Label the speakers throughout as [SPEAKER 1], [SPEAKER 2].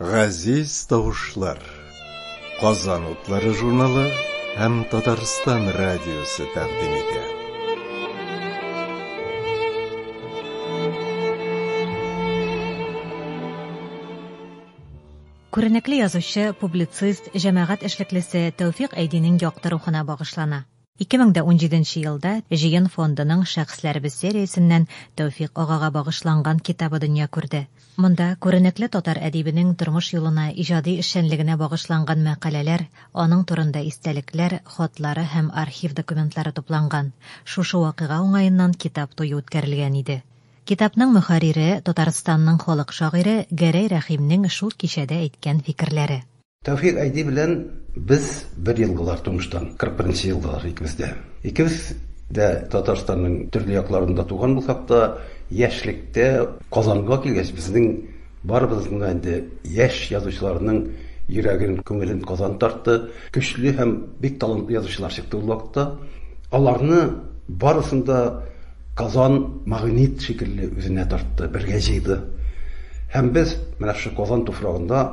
[SPEAKER 1] Газиз тавышлар. Казан утлары журналы һәм Татарстан радиосы тәкъдим итә.
[SPEAKER 2] Күренекле язучы, публицист, җәмәгать эшлеклесе Тәүфик Әйдинең якты рухына багышлана. 2017 елда Җыен фондының Шәхесләребез сериясеннән Тәүфикъ агага багышланган китабы дөнья күрде. Монда күренекле татар әдибенең тормыш юлына, иҗади эшчәнлегенә багышланган мәкаләләр, аның турында истәлекләр, хатлары һәм архив документлары тупланган. Шушы вакыйга уңаеннан китап туе үткәрелгән иде. Китапның мөхәррире, Татарстанның халык шагыйре Гәрәй Рәхимнең шул кичәдә әйткән фикерләре. Тәүфик Айди
[SPEAKER 3] белән без бер ел болар тумыштан, 41 нче елдалар икебез дә. Икебез дә Татарстанның төрле якларында туган булсак та, яшьлектә Казанга килгәч, безнең барыбызның да инде яшь язучыларның йөрәген, күңелен Казан тартты. Көчле һәм бик талантлы язучылар чыкты ул вакытта. Аларны барысын да Казан магнит шикелле үзенә тартты, бергә җыйды. Һәм без менә шушы Казан туфрагында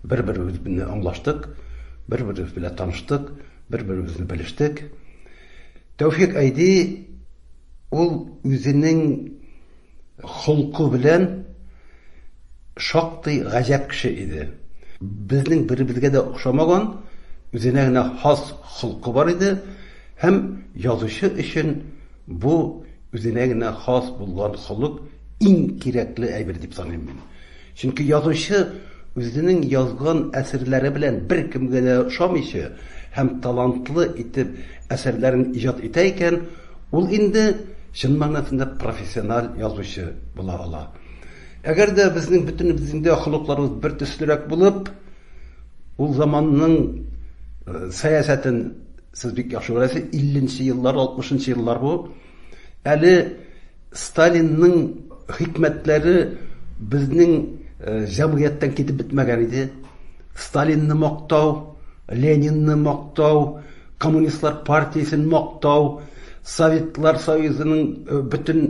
[SPEAKER 3] Бер-беребез белән аңлаштык, бер-беребез белән таныштык, бер-беребезне белештек. Тәүфик Айди ул үзенең холкы белән шактый гаҗәп кеше иде. Безнең беребезгә дә охшамаган, үзенә генә хас холкы бар иде һәм язучы өчен бу үзенә генә хас булган холык иң кирәкле әйбер дип саныйм мин. Чөнки язучы үзенең язган әсәрләре белән беркемгә дә ошамыйча һәм талантлы итеп әсәрләрен иҗат итә икән, ул инде чын мәгънәсендә профессиональ язучы була ала. Әгәр дә безнең бөтенебезнең дә холыкларыбыз бер төслерәк булып, ул заманның сәясәтен сез бик яхшы беләсез, 50 нче еллар, 60 нчы еллар бу, әле Сталинның хикмәтләре безнең җәмгыятьтән китеп бетмәгән иде. Сталинны мактау, Ленинны мактау, коммунистлар партиясен мактау, Советлар Союзының бөтен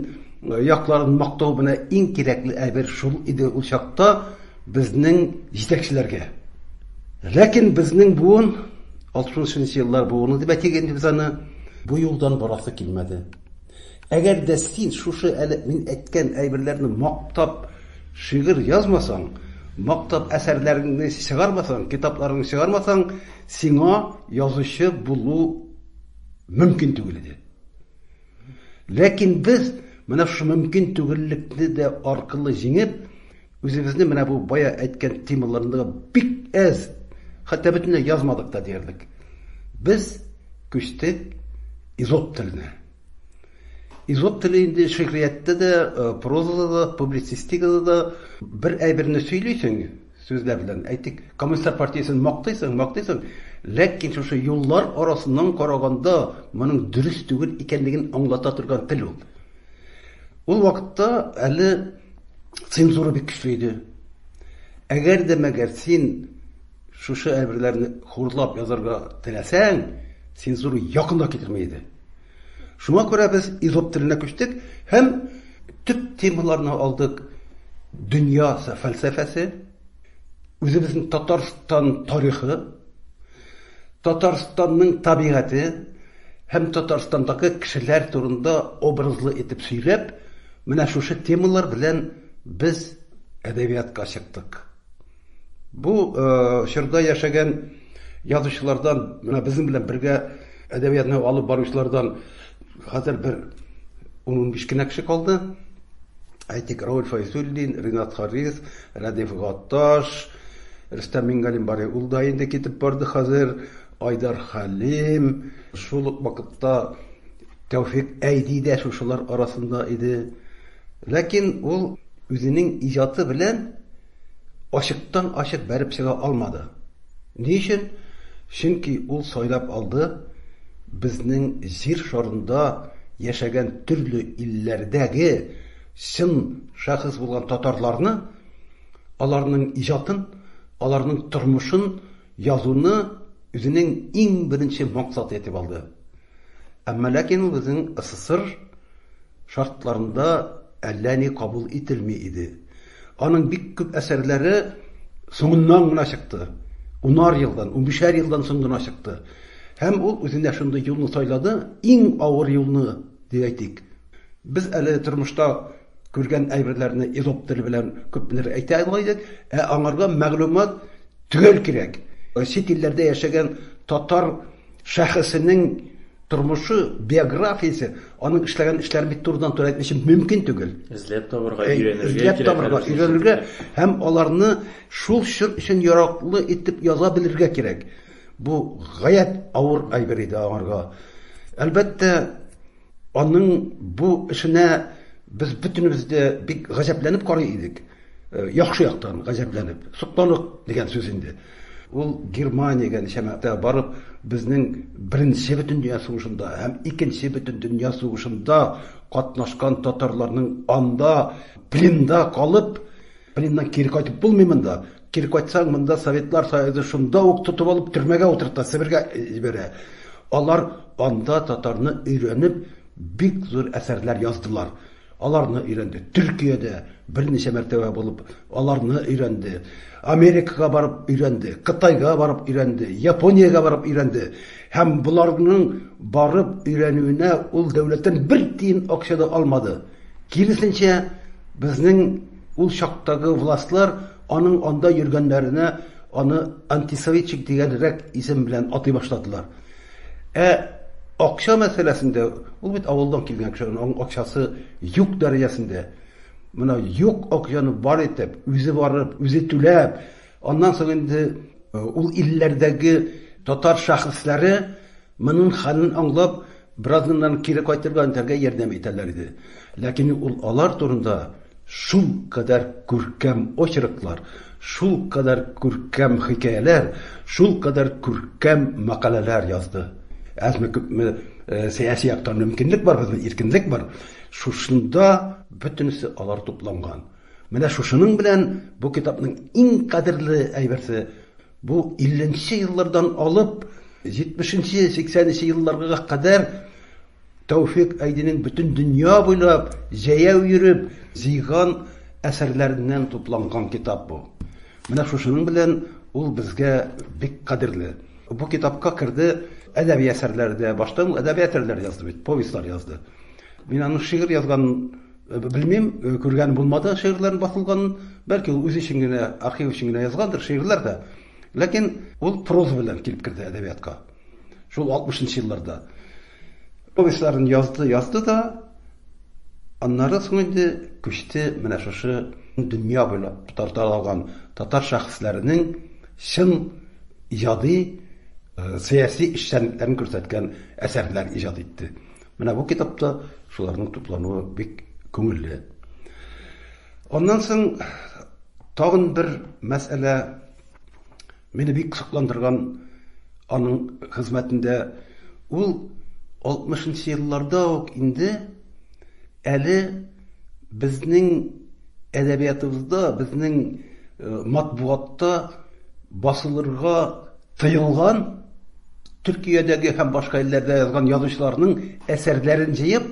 [SPEAKER 3] якларын мактау менә иң кирәкле әйбер шул иде ул чакта безнең җитәкчеләргә. Ләкин безнең буын 60 еллар буыны дип әйтик инде без аны бу юлдан барасы килмәде. Әгәр дә син шушы әле мин әйткән әйберләрне мактап шигырь язмасаң, мактап әсәрләреңне чыгармасаң, китапларыңны чыгармасаң, сиңа язучы булу мөмкин түгел иде. Ләкин без менә шушы мөмкин түгеллекне дә аркылы җиңеп, Үзебезнең менә бу бая әйткән темаларны бик әз, хәтта бөтенләй язмадык та диярлек. Без күчтек изот теленә. Изот теле инде шигърияттә дә, э, прозада да, публицистикада да бер әйберне сөйлисең, сүзләр белән әйтик, коммунистар партиясен мактыйсың, мактыйсың, ләкин шушы юллар арасыннан караганда моның дөрес түгел икәнлеген аңлата торган тел ул. Ул вакытта әле цензура бик көчле иде. Әгәр дә мәгәр син шушы әйберләрне хурлап язарга теләсәң, цензура якында китерми иде. Шуңа күрә без изоп теленә күчтек һәм төп темаларны алдык. Дөнья фәлсәфәсе, үзебезнең Татарстан тарихы, Татарстанның табигате һәм Татарстандагы кешеләр турында образлы итеп сөйләп, менә шушы темалар белән без әдәбиятка чыктык. Бу э, чорда яшәгән язучылардан, менә безнең белән бергә әдәбиятны алып баручылардан Хәзер бер ун-унбиш кенә кеше калды. Әйтик, Рауль Файзуллин, Ринат Харис, Рәдиф Гатташ, Рөстәм Мингалим бар, ул да инде китеп барды хәзер, Айдар Хәлим, шул ук вакытта Тәүфик Әйди дә шушылар арасында иде. Ләкин ул үзенең иҗаты белән Ачыктан-ачык бәреп чыга алмады. Ни өчен? Чөнки ул сайлап алды безнең җир шарында яшәгән төрле илләрдәге чын шәхес булган татарларны, аларның иҗатын, аларның тормышын язуны үзенең иң беренче максаты итеп алды. Әмма ләкин ул безнең СССР, шартларында әллә ни кабул ителми иде. Аның бик күп әсәрләре соңыннан гына чыкты. Унар елдан, унбишәр елдан соң гына чыкты. Һәм ул үзенә шундый юлны сайлады, иң авыр юлны, дип әйтик. Без әле тормышта күргән әйберләрне изоп теле белән күпмедер әйтә ала идек, ә аңарга мәгълүмат төгәл кирәк. Чит илләрдә яшәгән татар Шәхесенең тормышы, биографиясе, аның эшләгән эшләре бит турыдан-туры әйтмичә мөмкин түгел. Эзләп табырга, э,
[SPEAKER 4] өйрәнергә Эзләп табырга, өйрәнергә һәм
[SPEAKER 3] аларны шул чор өчен яраклы итеп яза белергә кирәк. Бу гаять авыр әйбер иде аңарга. Әлбәттә, аның бу эшенә без бөтенебез дә бик гаҗәпләнеп карый идек. Э, яхшы яктан гаҗәпләнеп сокланык дигән сүз инде ул германиягә ничәмә барып безнең беренче бөтен дөнья сугышында һәм икенче бөтен дөнья сугышында катнашкан татарларның анда пленда калып пленнан кире кайтып булмый монда кире кайтсаң монда советлар союзы шунда ук тотып алып төрмәгә утырта себергә э, җибәрә алар анда татарны өйрәнеп бик зур әсәрләр яздылар Аларны өйрәнде. Төркиядә берничә мәртәбә булып, аларны өйрәнде. Америкага барып өйрәнде, Кытайга барып өйрәнде, Япониягә барып өйрәнде. Һәм боларның барып өйрәнүенә ул дәүләттән бер тиен акча да алмады. Киресенчә, безнең ул чактагы властьлар аның анда йөргәннәренә аны антисоветчик дигәнрәк исем белән атый башладылар. Ә акча мәсьәләсендә, ул бит авылдан килгән кеше, аның акчасы юк дәрәҗәсендә. Менә юк акчаны бар итеп, үзе барып, үзе түләп, аннан соң инде ул илләрдәге татар шәхесләре моның хәлен аңлап, беразыннан кире кайтырга итәргә ярдәм итәләр иде. Ләкин ул алар турында шул кадәр күркәм очерклар, шул кадәр күркәм хикәяләр, шул кадәр күркәм мәкаләләр язды. Әзме-күпме сәяси яктан мөмкинлек бар безнең, иркенлек бар. Шушында бөтенесе алар тупланган. Менә шушының белән бу китапның иң кадерле әйберсе, бу 50 нче еллардан алып 70 нче, 80 нче елларга кадәр Тәүфик Айдинең бөтен дөнья буйлап җәяү йөреп җыйган әсәрләреннән тупланган китап бу. Менә шушының белән ул безгә бик кадерле. Бу китапка керде әдәби әсәрләр дә. Башта ул әдәби әсәрләр язды бит, повестьлар язды. Мин аның шигырь язган э, белмим, э, күргән булмады шигырьләрен басылган. Бәлки ул үзе өчен генә, архив өчен генә язгандыр шигырьләр дә. Ләкин ул проза белән килеп керде әдәбиятка. Шул 60 нчы елларда. Повестьларын язды, язды да, аннары соң инде күчте менә шушы дөнья буйлап тарта алган татар шәхесләренең чын иҗади э, сәяси эшчәнлекләрен күрсәткән әсәрләр иҗат итте. Менә бу китапта шуларның туплануы бик күңелле. Аннан соң тагын бер мәсьәлә Мине бик кызыкландырган аның хезмәтендә ул 60 нчы елларда ук инде әле безнең әдәбиятыбызда, безнең э, матбугатта басылырга тыелган Төркиядәге һәм башка илләрдә язган язучыларның әсәрләрен җыеп,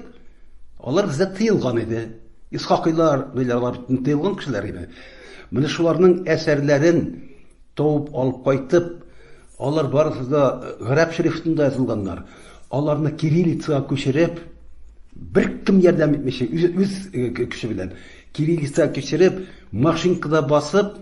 [SPEAKER 3] алар бездә тыелган иде. Исхакыйлар, милләрлар тыелган кешеләр иде. Менә шуларның әсәрләрен табып алып кайтып, алар барысы да гарәп шрифтында язылганнар. Аларны кириллицага күчереп, беркем ярдәм итмичә, үз, үз э, көче белән кириллицага күчереп, машинкада басып,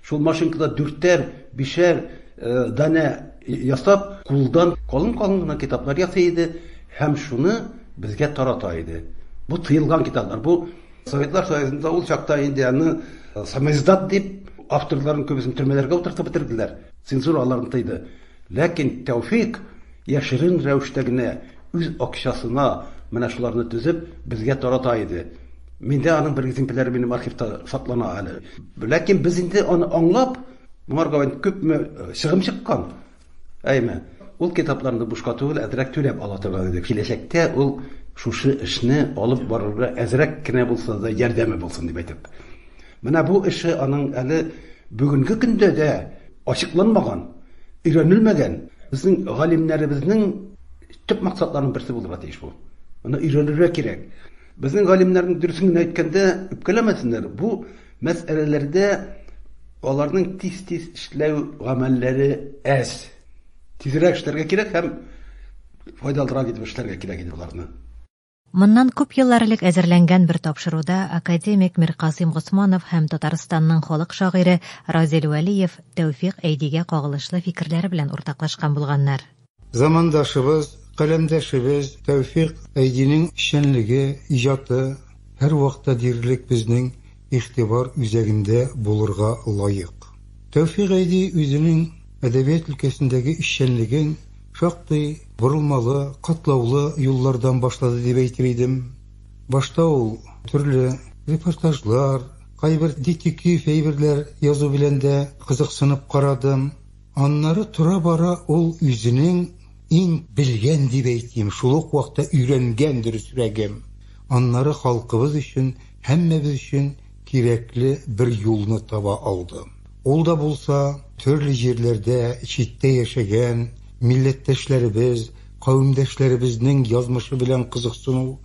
[SPEAKER 3] шул машинкада дүртәр, бишәр э, данә ясап, кулдан калын-калын гына китаплар ясый иде һәм шуны безгә тарата иде. Бу тыелган китаплар, бу Советлар Союзында ул чакта инде аны э, самоиздат дип авторларын күбесен төрмәләргә утыртып бетерделәр. Цензура аларны тыйды. Ләкин Тәүфик яшерен рәвештә генә үз акчасына менә шуларны төзеп безгә тарата иде. Миндә аның бер экземпляры минем архивта саклана әле. Ләкин без инде аны аңлап, моңарга күпме э, чыгым чыккан. Әйме, ул китапларны бушка түгел, әзрәк түләп ала торган иде. Киләчәктә ул шушы эшне алып барырга әзрәк кенә булса да ярдәме булсын дип әйтеп. Менә бу эше аның әле бүгенге көндә дә ачыкланмаган, өйрәнелмәгән безнең галимнәребезнең төп максатларының берсе булырга тиеш бу. Моны өйрәнергә кирәк. Безнең галимнәрнең дөресен генә әйткәндә, үпкәләмәсеннәр, бу Мәсьәләләрдә аларның тиз-тиз эшләү гамәлләре әз. Тизрәк эшләргә кирәк һәм файдалырак итеп эшләргә кирәк иде боларны. Моннан
[SPEAKER 2] күп еллар элек әзерләнгән бер тапшыруда академик Миркасыйм Госманов һәм Татарстанның халык шагыйре Разил Вәлиев Тәүфик Әйдигә кагылышлы фикерләре белән уртаклашкан булганнар. Замандашыбыз,
[SPEAKER 5] каләмдәшебез Тәүфик Әйдинең эшчәнлеге, иҗаты һәрвакта диярлек безнең игътибар үзәгендә булырга лаек. Тәүфик Әйди үзенең әдәбият өлкәсендәге эшчәнлеген шактый борылмалы, катлаулы юллардан башлады дип әйтер идем. Башта ул төрле репортажлар, кайбер детектив әйберләр язу белән дә кызыксынып карадым. Аннары тора-бара ул үзенең иң белгән дип әйтим, шул ук вакытта өйрәнгән дөресрәгем, аннары халкыбыз өчен, һәммәбез өчен кирәкле бер юлны таба алды. Ул да булса, төрле җирләрдә, читтә яшәгән милләттәшләребез, кавемдәшләребезнең язмышы белән кызыксыну,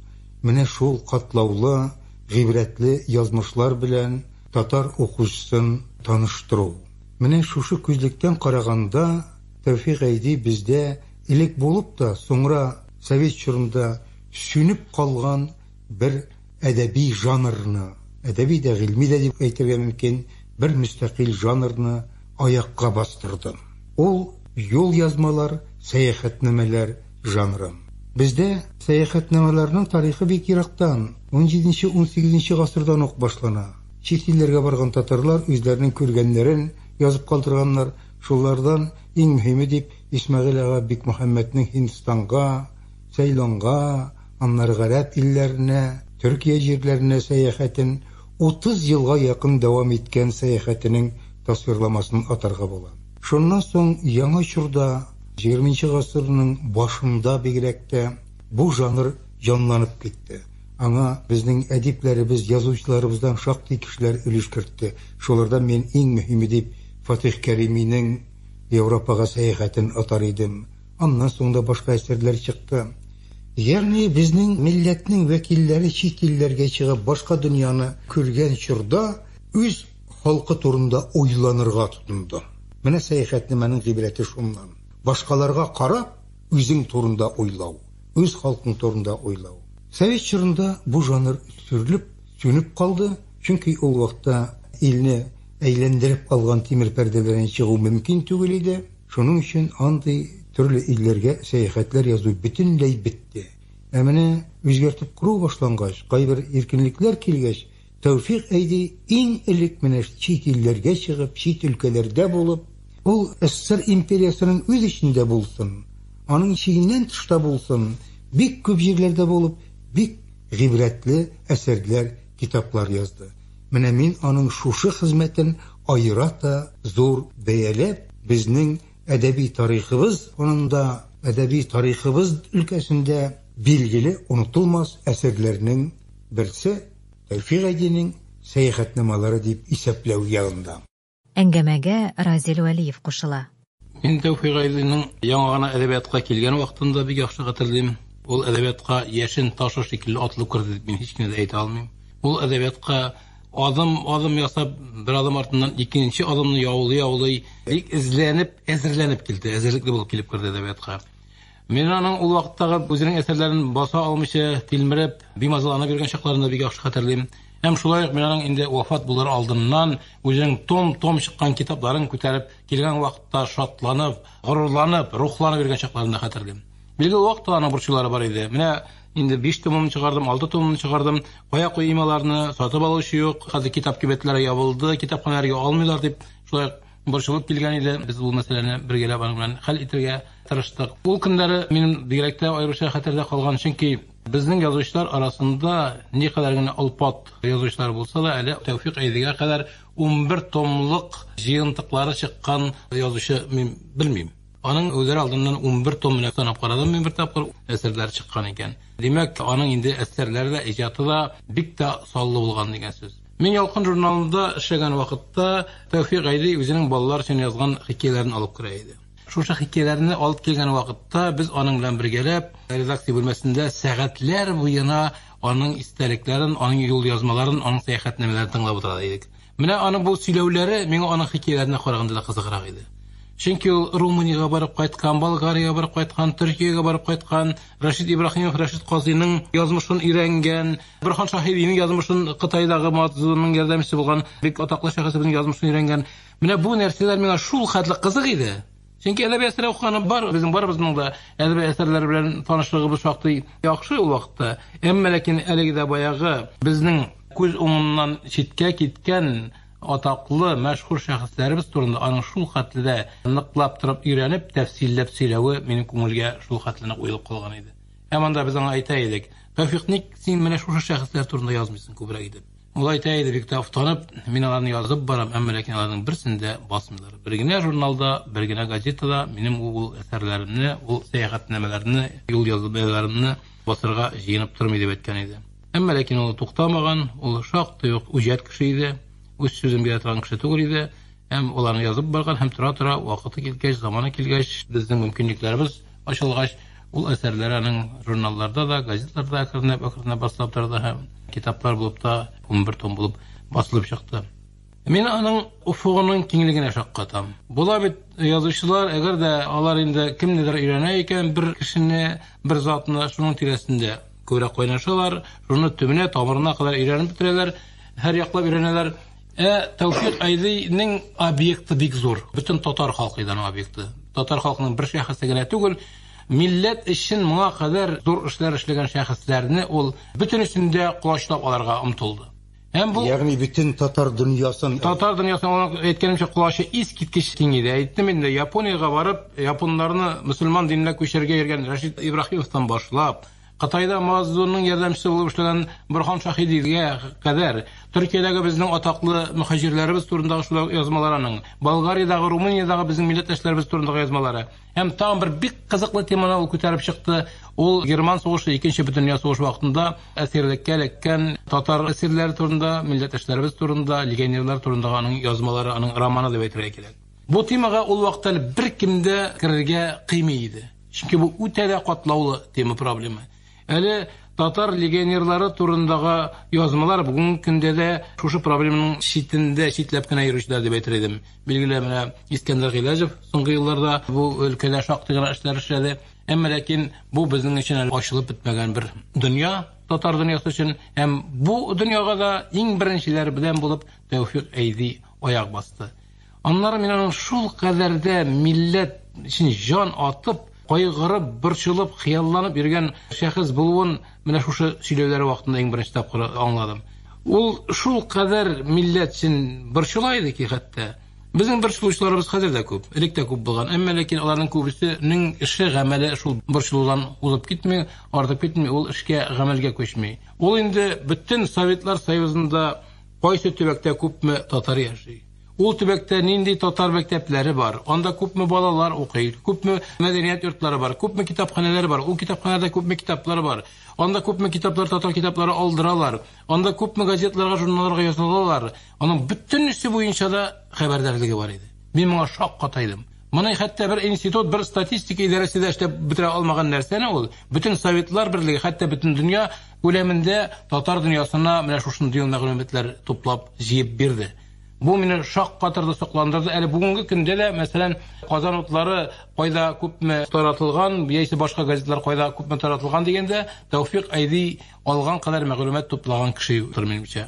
[SPEAKER 5] менә шул катлаулы, гыйбрәтле язмышлар белән татар укучысын таныштыру. Менә шушы күзлектән караганда, Тәүфик Гайди бездә элек булып та, соңра совет чорында сүнеп калган бер әдәби жанрны, әдәби дә, гыйльми дә дип әйтергә мөмкин, бер мөстәкыйль жанрны аякка бастырды. Ул, юлъязмалар, сәяхәтнамәләр жанры. Бездә сәяхәтнамәләрнең тарихы бик ерактан, унҗиденче-унсигезенче гасырдан ук башлана. Чит илләргә барган татарлар үзләренең күргәннәрен язып калдырганнар, шулардан иң мөһиме дип Исмәгыйль ага Бикмөхәммәтнең Һиндстанга, Цейлонга, аннары гарәп илләренә, Төркия җирләренә сәяхәтен, 30 елга якын дәвам иткән сәяхәтенең тасвирламасын атарга була. Шуннан соң яңа чорда, ХХ гасырның башында бигрәк тә, бу жанр җанланып китте. Аңа безнең әдипләребез, язучыларыбыздан шактый кешеләр өлеш кертте. Шулардан мин иң мөһиме дип Фатыйх Кәриминең Европага сәяхәтен атар идем. Аннан соң да башка әсәрләр чыкты. Ягъни безнең милләтнең вәкилләре чит илләргә чыгып, башка дөньяны күргән чорда үз халкы турында уйланырга тотынды. Менә сәяхәтнамәнең гыйбрәте шуннан. Башкаларга карап, үзең турында уйлау. үз халкың турында уйлау. Совет чорында бу жанр сүрелеп, сүнеп калды, чөнки ул вакытта илне әйләндереп алган тимер пәрдәләрен чыгу мөмкин түгел иде, шуның өчен андый төрле илләргә сәяхәтләр язу бөтенләй бетте. Ә менә үзгәртеп кору башлангач, кайбер иркенлекләр килгәч, Тәүфик әйди, иң элек менә чит илләргә чыгып, чит өлкәләрдә булып, ул СССР империясенең үз эчендә булсын, аның чигеннән тышта булсын, бик күп җирләрдә булып, бик гыйбрәтле әсәрләр, китаплар язды. Менә мин аның шушы хезмәтен аерата зур бәяләп, безнең әдәби тарихыбыз фонында, әдәби тарихыбыз өлкәсендә билгеле онытылмас әсәрләрнең берсе Тәүфик Әйдинең Сәяхәтнамалары дип исәпләү ягында. Әңгәмәгә
[SPEAKER 2] Разил Вәлиев кушыла. Мин Тәүфик
[SPEAKER 4] Әйдинең яңа гына әдәбиятка килгән вакытын да бик яхшы хәтерлим. Ул әдәбиятка яшен ташы шикелле атылып керде дип мин һич кенә дә әйтә алмыйм. Ул әдәбиятка Адым, адым ясап, бер адым артыннан икенче адымны яулый-яулый, бик эзләнеп, әзерләнеп килде, әзерлекле булып килеп керде әдәбиятка. Мин аның ул вакыттагы үзенең әсәрләрен баса алмыйча, тилмереп, бимазалана биргән чакларын да бик яхшы хәтерлим. Һәм шулай ук мин аның инде вафат булыр алдыннан үзенең том-том чыккан китапларын күтәреп килгән вакытта шатланып, горурланып, рухланып йөргән чакларын да хәтерлим. Билгеле вакыт та аның борчулары бар иде. Менә инде 5 томын чыгардым, 6 томын чыгардым. Кая куйыйм аларны? Сатып алучы юк. Хәзер китап кибетләре ябылды, китапханәләргә алмыйлар дип, шулай борчылып килгән иде. Без бу мәсьәләне бергәләп аның белән хәл итәргә тырыштык. Ул көннәре минем бигрәк тә аеруча хәтердә калган, чөнки безнең язучылар арасында никадәр генә олпат язучылар булса да, әле Тәүфик Әйдегә кадәр 11 томлык җыентыклары чыккан язучы мин белмим. Аның үлер алдыннан унбер том менә санап карадым мин бер тапкыр, әсәрләре чыккан икән. Димәк, аның инде әсәрләре дә, иҗаты да бик тә саллы булган дигән сүз. Мин Ялкын журналында эшләгән вакытта Тәүфик Гайли үзенең балалар өчен язган хикәяләрен алып керә иде. Шушы хикәяләрне алып килгән вакытта без аның белән бергәләп редакция бүлмәсендә сәгатьләр буена аның истәлекләрен, аның юлъязмаларын, аның сәяхәтнамәләрен тыңлап утыра идек. Менә аның бу сөйләүләре миңа аның хикәяләренә караганда да кызыграк иде. Чөнки ул Румыниягә барып кайткан, Болгариягә барып кайткан, Төркиягә барып кайткан, Рәшит Ибраһимов, Рәшит Казыйның язмышын өйрәнгән, Борхан Шаһибиның язмышын Кытайдагы Мацзунның ярдәмчесе булган бик атаклы шәхесебезнең язмышын өйрәнгән. Менә бу нәрсәләр миңа шул хәтле кызык иде. Чөнки әдәби әсәр укыганы бар, безнең барыбызның да әдәби әсәрләр белән танышлыгыбыз шактый яхшы ул вакытта. Әмма ләкин әлеге дә баягы безнең күз уңыннан читкә киткән атаклы, мәшһүр шәхесләребез турында аның шул хәтле дә ныклап торып өйрәнеп, тәфсилләп сөйләве минем күңелгә шул хәтле нык уелып калган иде. Һәм анда без аңа әйтә идек, Тәүфик, ник син менә шушы шәхесләр турында язмыйсың күбрәк итеп? Ул әйтә иде, бик тә офтанып, мин аларны язып барам, әмма ләкин аларның берсен дә басмыйлар. Бер генә журналда, бер генә газетада минем ул әсәрләремне, ул сәяхәтнамәләрне, юл язбаларымны басырга җыенып тормый дип әйткән иде. Әмма ләкин ул туктамаган, ул шактый ук үҗәт кеше иде, үз сүзен бирә торган кеше түгел иде һәм аларны язып барган һәм тора-тора вакыты килгәч, заманы килгәч, безнең мөмкинлекләребез ачылгач, ул әсәрләре аның журналларда да, газетларда әкренләп-әкренләп басыла торды һәм китаплар булып та, унбер том булып басылып чыкты. Мин аның офыгының киңлегенә шаккатам. Була бит язучылар, әгәр дә алар инде кемнедер өйрәнә икән, бер кешене, бер затны шуның тирәсендә күбрәк кайнашалар, шуны төбенә, тамырына кадәр өйрәнеп бетерәләр, һәр яклап өйрәнәләр. Ә Тәүфик Айдыйның объекты бик зур. Бөтен татар халкы иде аның объекты. Татар халкының бер шәхесе генә түгел, милләт өчен моңа кадәр зур эшләр эшләгән шәхесләрне ул бөтенесен дә колачлап алырга омтылды. Һәм бу Ягъни бөтен татар
[SPEAKER 5] дөньясын Татар дөньясына аның
[SPEAKER 4] әйткәнемчә колачы ис киткеч киң иде. Әйттем инде, Япониягә барып, японнарны мөселман диненә күчерергә йөргән Рәшит Ибраһимовтан башлап, Кытайда Маздунның ярдәмчесе булып эшләгән Борхан Шаһидилгә кадәр Төркиядәге безнең атаклы мөхаҗирләребез турындагы шулай язмалар аның, Болгариядәге, Румыниядәге безнең милләттәшләребез турындагы язмалары. Һәм тагын бер бик кызыклы теманы ул күтәреп чыкты. Ул Герман сугышы, Икенче бөтендөнья сугышы вакытында әсирлеккә эләккән татар әсирләре турында, милләттәшләребез турында, легионерлар турындагы аның язмалары, аның романы дип әйтергә кирәк. Бу темага ул вакыт әле беркем дә керергә кыймый иде. Чөнки бу үтә дә катлаулы тема проблема. Әле татар легионерлары турындагы язмалар бүгенге көндә дә шушы проблемның читендә, читләп кенә йөрүчеләр дип әйтер идем. Билгеле менә Искәндәр Гыйләҗев соңгы елларда бу өлкәдә шактый гына эшләр эшләде. Әмма ләкин бу безнең өчен әле ачылып бетмәгән бер дөнья, татар дөньясы өчен. Һәм бу дөньяга да иң беренчеләр белән булып Тәүфик Әйди аяк басты. Аннары мин аның шул кадәр дә милләт өчен җан атып, кайгырып, борчылып, хыялланып йөргән шәхес булуын менә шушы сөйләүләре вакытында иң беренче тапкыр аңладым. Ул шул кадәр милләт өчен борчыла иде ки, хәтта безнең борчылучыларыбыз хәзер дә күп, элек тә күп булган. Әмма ләкин аларның күбесенең эше, гамәле шул борчылудан узып китми, артып китми, ул эшкә, гамәлгә күчми. Ул инде бөтен Советлар Союзында Кайсы төбәктә күпме татар яши? Ул төбәктә нинди татар мәктәпләре бар? Анда күпме балалар укый? Күпме мәдәният йортлары бар? Күпме китапханәләр бар? Ул китапханәдә күпме китаплар бар? Анда күпме китаплар татар китаплары алдыралар? Анда күпме газетларга, журналларга язылалар? Аның бөтенесе буенча да хәбәрдарлыгы бар иде. Мин моңа шаккатайдым. Моны хәтта бер институт, бер статистика идарәсе дә эшләп бетерә алмаган нәрсәне ул, бөтен Советлар Берлеге, хәтта бөтен дөнья күләмендә татар дөньясына менә шушындый ел мәгълүматлар туплап, җыеп бирде. Бу мине шаккатырды, сокландырды. Әле бүгенге көндә дә, мәсәлән, Казан утлары кайда күпме таратылган, яисә башка газетлар кайда күпме таратылган дигәндә, Тәүфик Айди алган кадәр мәгълүмат туплаган кеше юктыр, минемчә.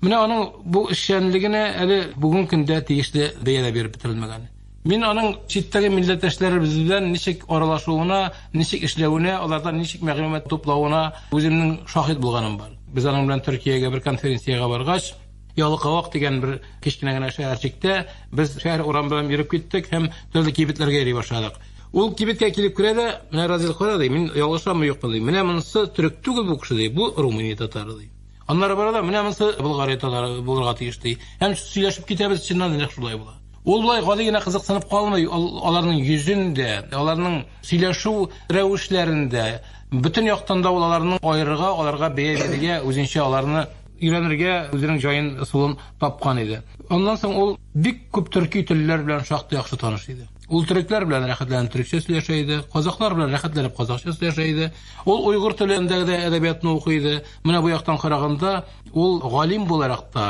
[SPEAKER 4] Менә аның бу эшчәнлегенә әле бүген көндә тиешле бәя дә биреп бетерелмәгән. Мин аның читтәге милләттәшләребез белән ничек аралашуына, ничек эшләвенә, алардан ничек мәгълүмат туплавына үземнең шаһит булганым бар. Без аның белән Төркиягә бер конференциягә баргач, Ялыкавак дигән бер кечкенә генә шәһәрчектә без шәһәр урамында йөреп киттек һәм төрле кибетләргә йөри башладык. Ул кибеткә килеп керә дә, менә Разил кара ди, мин ялгышамы юкмы ди. Менә монысы төрек түгел бу кеше ди, бу Румыния татары ди. Аннары бара да, менә монысы Болгария татары булырга тиеш ди. Һәм сөйләшеп китәбез, чыннан да нәкъ шулай була. Ул болай гади генә кызыксынып калмый, аларның йөзендә, аларның сөйләшү рәвешләрендә, бөтен яктан да ул аларны аерырга, аларга бәя бирергә, үзенчә аларны өйрәнергә үзенең җаен, ысулын тапкан иде. Аннан соң ул бик күп төрки телләр белән шактый яхшы таныш иде. Ул төрекләр белән рәхәтләнеп төрекчә сөйләшә иде, казаклар белән рәхәтләнеп казакча сөйләшә иде. Ул уйгыр телендәге дә әдәбиятны укый иде. Менә бу яктан караганда, ул галим буларак та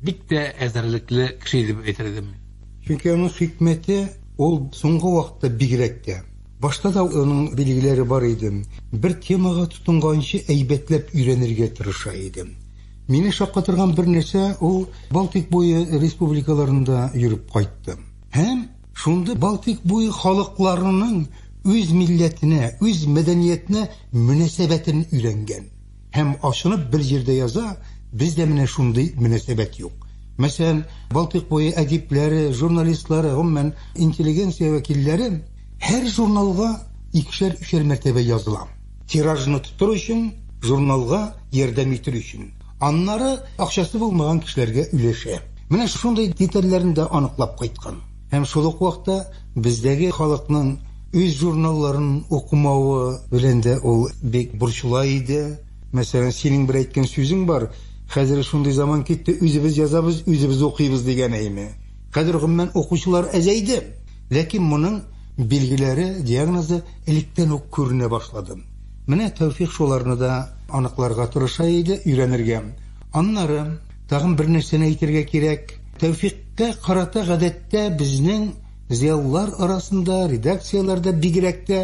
[SPEAKER 4] бик тә әзерлекле кеше дип әйтер идем. Чөнки аның
[SPEAKER 5] хикмәте ул соңгы вакытта бигрәк тә. Башта да аның билгеләре бар иде. Бер темага тотынганчы әйбәтләп өйрәнергә тырыша иде. Мине шаккатырган бер нәрсә, ул Балтик буе республикаларында йөреп кайтты. Һәм шундый Балтыйк буе халыкларының үз милләтенә, үз мәдәниятенә мөнәсәбәтен өйрәнгән. Һәм ачынып бер җирдә яза, бездә менә шундый мөнәсәбәт юк. Мәсәлән, Балтыйк буе әдипләре, журналистлары, гомумән, интеллигенция вәкилләре һәр журналга икешәр-өчәр мәртәбә языла. Тиражны тотыр өчен, журналга ярдәм итер өчен. Аннары акчасы булмаган кешеләргә өләшә. Менә шундый детальләрне дә аныклап кайткан. Һәм шул ук вакытта бездәге халыкның үз журналларын укымавы белән дә ул бик борчыла иде. Мәсәлән, синең бер әйткән сүзең бар, Хәзер шундый заман китте, үзебез язабыз, үзебез укыйбыз, дигән әйме. Хәзер, гомумән, укучылар әзәйде. Ләкин моның билгеләре, диагнозы электән үк күренә башлады. Менә Тәүфик шуларны да аныкларга тырыша иде, өйрәнергә. Аннары, тагын бер нәрсәне әйтергә кирәк, Тәүфикка карата гадәттә безнең зыялылар арасында, редакцияләрдә бигрәк тә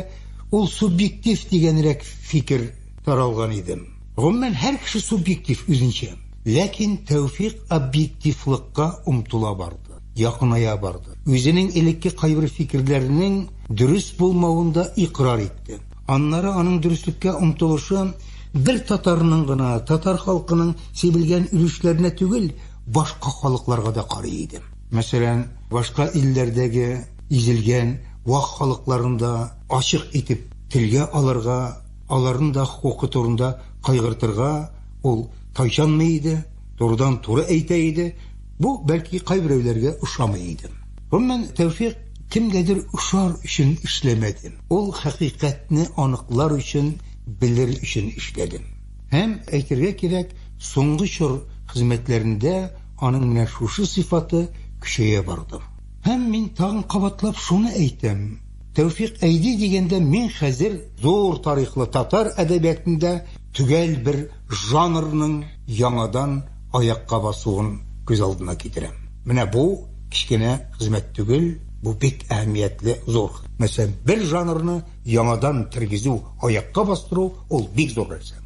[SPEAKER 5] ул субъектив дигәнрәк фикер таралган иде. Гомумән, һәр кеше субъектив үзенчә. Ләкин Тәүфик объективлыкка омтыла барды, якыная барды. Үзенең элекке кайбер фикерләренең дөрес булмавын да икърар итте. Аннары аның дөреслеккә омтылышы бер татарның гына, татар халкының сибелгән өлешләренә түгел, башка халыкларга да карый иде. Мәсәлән, башка илләрдәге изелгән вак халыкларны да ачык итеп телгә алырга, аларның да хокукы турында кайгыртырга ул тайчанмый иде, турыдан-туры әйтә иде. Бу, бәлки, кайберәүләргә ошамый иде. Гомумән, Тәүфикъ Кемгәдер ошар өчен эшләмәдем. Ул хакыйкатьне аныклар өчен, белер өчен эшләдем. Һәм, әйтергә кирәк, соңгы чор хезмәтләрендә аның менә шушы сыйфаты көчәя барды. Һәм мин тагын кабатлап шуны әйтәм, Тәүфик Әйди дигәндә мин хәзер зур тарихлы татар әдәбиятында төгәл бер жанрның яңадан аякка басуын күз алдына китерәм. Менә бу кечкенә хезмәт түгел, бу бик әһәмиятле, зур. Мәсәлән, бер жанрны яңадан тергезү, аякка бастыру, ул бик зур нәрсә.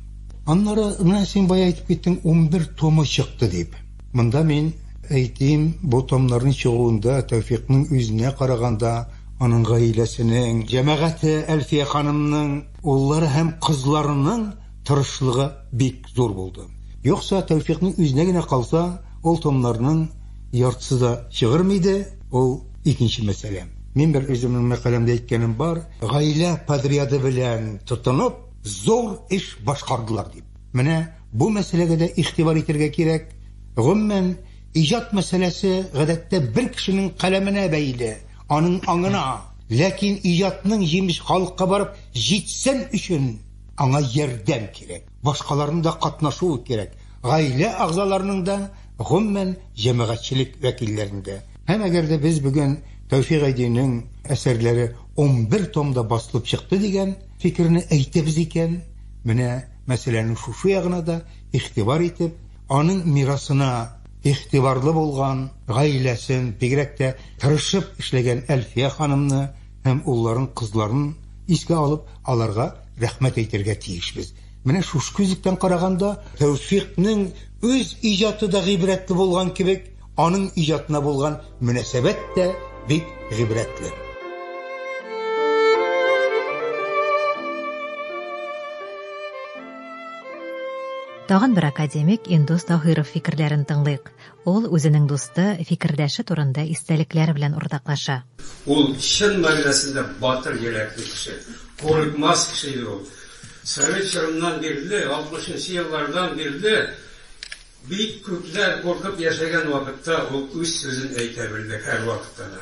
[SPEAKER 5] Аннары, менә син бая әйтеп киттең, унбер томы чыкты дип. Монда мин әйтим, бу томнарның чыгуында Тәүфикның үзенә караганда, аның гаиләсенең, җәмәгате, Әлфия ханымның уллары һәм кызларының тырышлыгы бик зур булды. Юкса, Тәүфикның үзенә генә калса, ул томнарның яртысы да чыгырмый иде, ул икенче мәсьәлә. Мин бер үземнең мәкаләмдә әйткәнем бар, гаилә подряды белән тотынып, зур эш башкардылар дип. Менә бу мәсьәләгә дә игътибар итәргә кирәк. Гомумән, иҗат мәсьәләсе, гадәттә, бер кешенең каләменә бәйле, аның аңына. Ләкин иҗатның җимеше халыкка барып җитсен өчен, Аңа ярдәм кирәк, башкаларның да катнашуы кирәк, гаилә әгъзаларының да, гомумән, җәмәгатьчелек вәкилләренең дә. Һәм әгәр дә без бүген Тәүфикъ Айдинең әсәрләре унбер томда басылып чыкты дигән фикерне әйтәбез икән, менә мәсьәләнең шушы ягына да игътибар итеп, аның мирасына игътибарлы булган, гаиләсен, бигрәк тә тырышып эшләгән Әлфия ханымны, һәм улларын, кызларын искә алып, аларга рәхмәт әйтергә тиешбез. Менә шушы күзлектән караганда, Тәүфикънең үз иҗаты да гыйбрәтле булган кебек, аның иҗатына булган мөнәсәбәт тә бик гыйбрәтле.
[SPEAKER 2] Тагын бер академик Индус Таһиров фикерләрен тыңлыйк. Ул үзенең дусты, фикердәше турында истәлекләр белән уртаклаша. Ул чын
[SPEAKER 6] мәгънәсендә батыр йөрәкле кеше, курыкмас кеше иде ул. Совет чорыннан бирле, алтмышынчы еллардан бирле бик күпләр куркып яшәгән вакытта ул үз сүзен әйтә белде һәрвакытта да.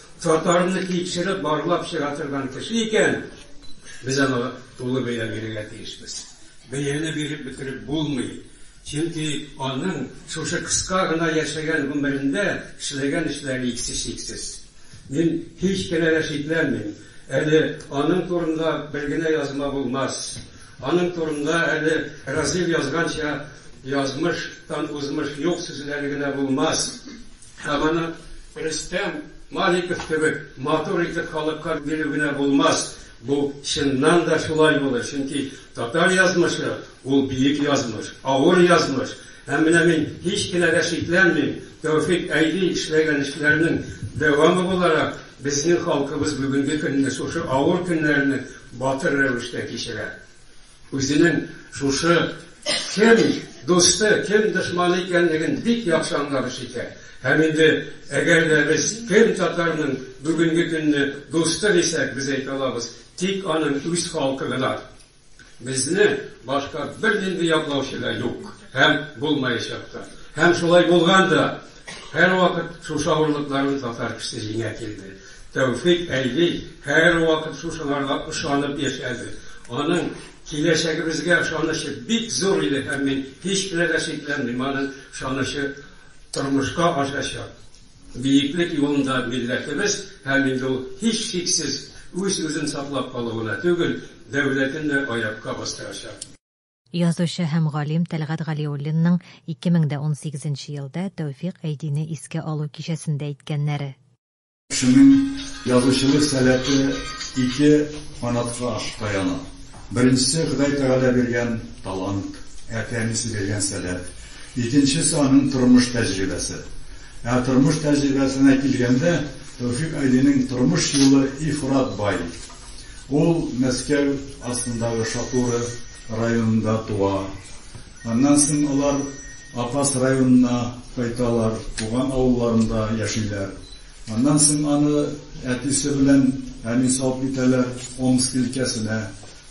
[SPEAKER 6] Татарны тикшереп, барлап чыга торган кеше икән, без аңа тулы бәя бирергә тиешбез. Бәяне биреп бетереп булмый, чөнки аның шушы кыска гына яшәгән гомерендә эшләгән эшләре иксез-чиксез. Мин һич кенә дә шикләнмим, әле аның турында бер генә язма булмас. Аның турында әле Разил язганча, язмыш тан узмыш юк сүзләре генә булмас. Һәм аны Рөстәм Маликов кебек матур итеп халыкка бирү генә булмас, бу чыннан да шулай булыр, чөнки татар язмышы, ул биек язмыш, авыр язмыш. Һәм менә мин һич кенә дә шикләнмим, Тәүфик Әйди эшләгән эшләренең дәвамы буларак, безнең халкыбыз бүгенге көнне шушы авыр көннәрне батыр рәвештә кичерә. Үзенең шушы кем дусты, кем дошманы икәнлеген бик яхшы аңлап эш итә. Һәм инде әгәр дә без кем татарның бүгенге көнне дусты дисәк, без әйтә алабыз, тик аның үз халкы гына. Безне башка бернинди яклаучы да юк һәм булмаячак та. Һәм шулай булган да. Һәрвакыт шушы авырлыкларны татар кешесе җиңә килде. Тәүфик әйди һәрвакыт шушыларга ышанып яшәде. Аның киләчәгебезгә ышанычы бик зур иде һәм мин һичберне дә шикләнмим, аның ышанычы тормышка ашачак. Биеклек юлында милләтебез һәм инде ул һичшиксез үз-үзен саклап калуына түгел, дәүләтен дә аякка бастырачак. Язучы
[SPEAKER 2] һәм галим Тәлгать Галиуллинның 2018 нче елда Тәүфикъ Әйдине искә алу кичәсендә әйткәннәре. Кешенең
[SPEAKER 7] язучылык сәләте ике канатка таяна. Беренчесе, Ходай Тәгалә биргән талант, әти-әнисе биргән сәләт. Икенчесе, аның тормыш тәҗрибәсе. Ә тормыш тәҗрибәсенә килгәндә, Тәүфикъ Әйдинең тормыш юлы ифрат бай. Ул Мәскәү астындагы Шатура районында туа. Аннан соң алар Апас районына кайталар, туган авылларында яшиләр. Аннан соң аны әтисе белән әни салып китәләр Омск өлкәсенә,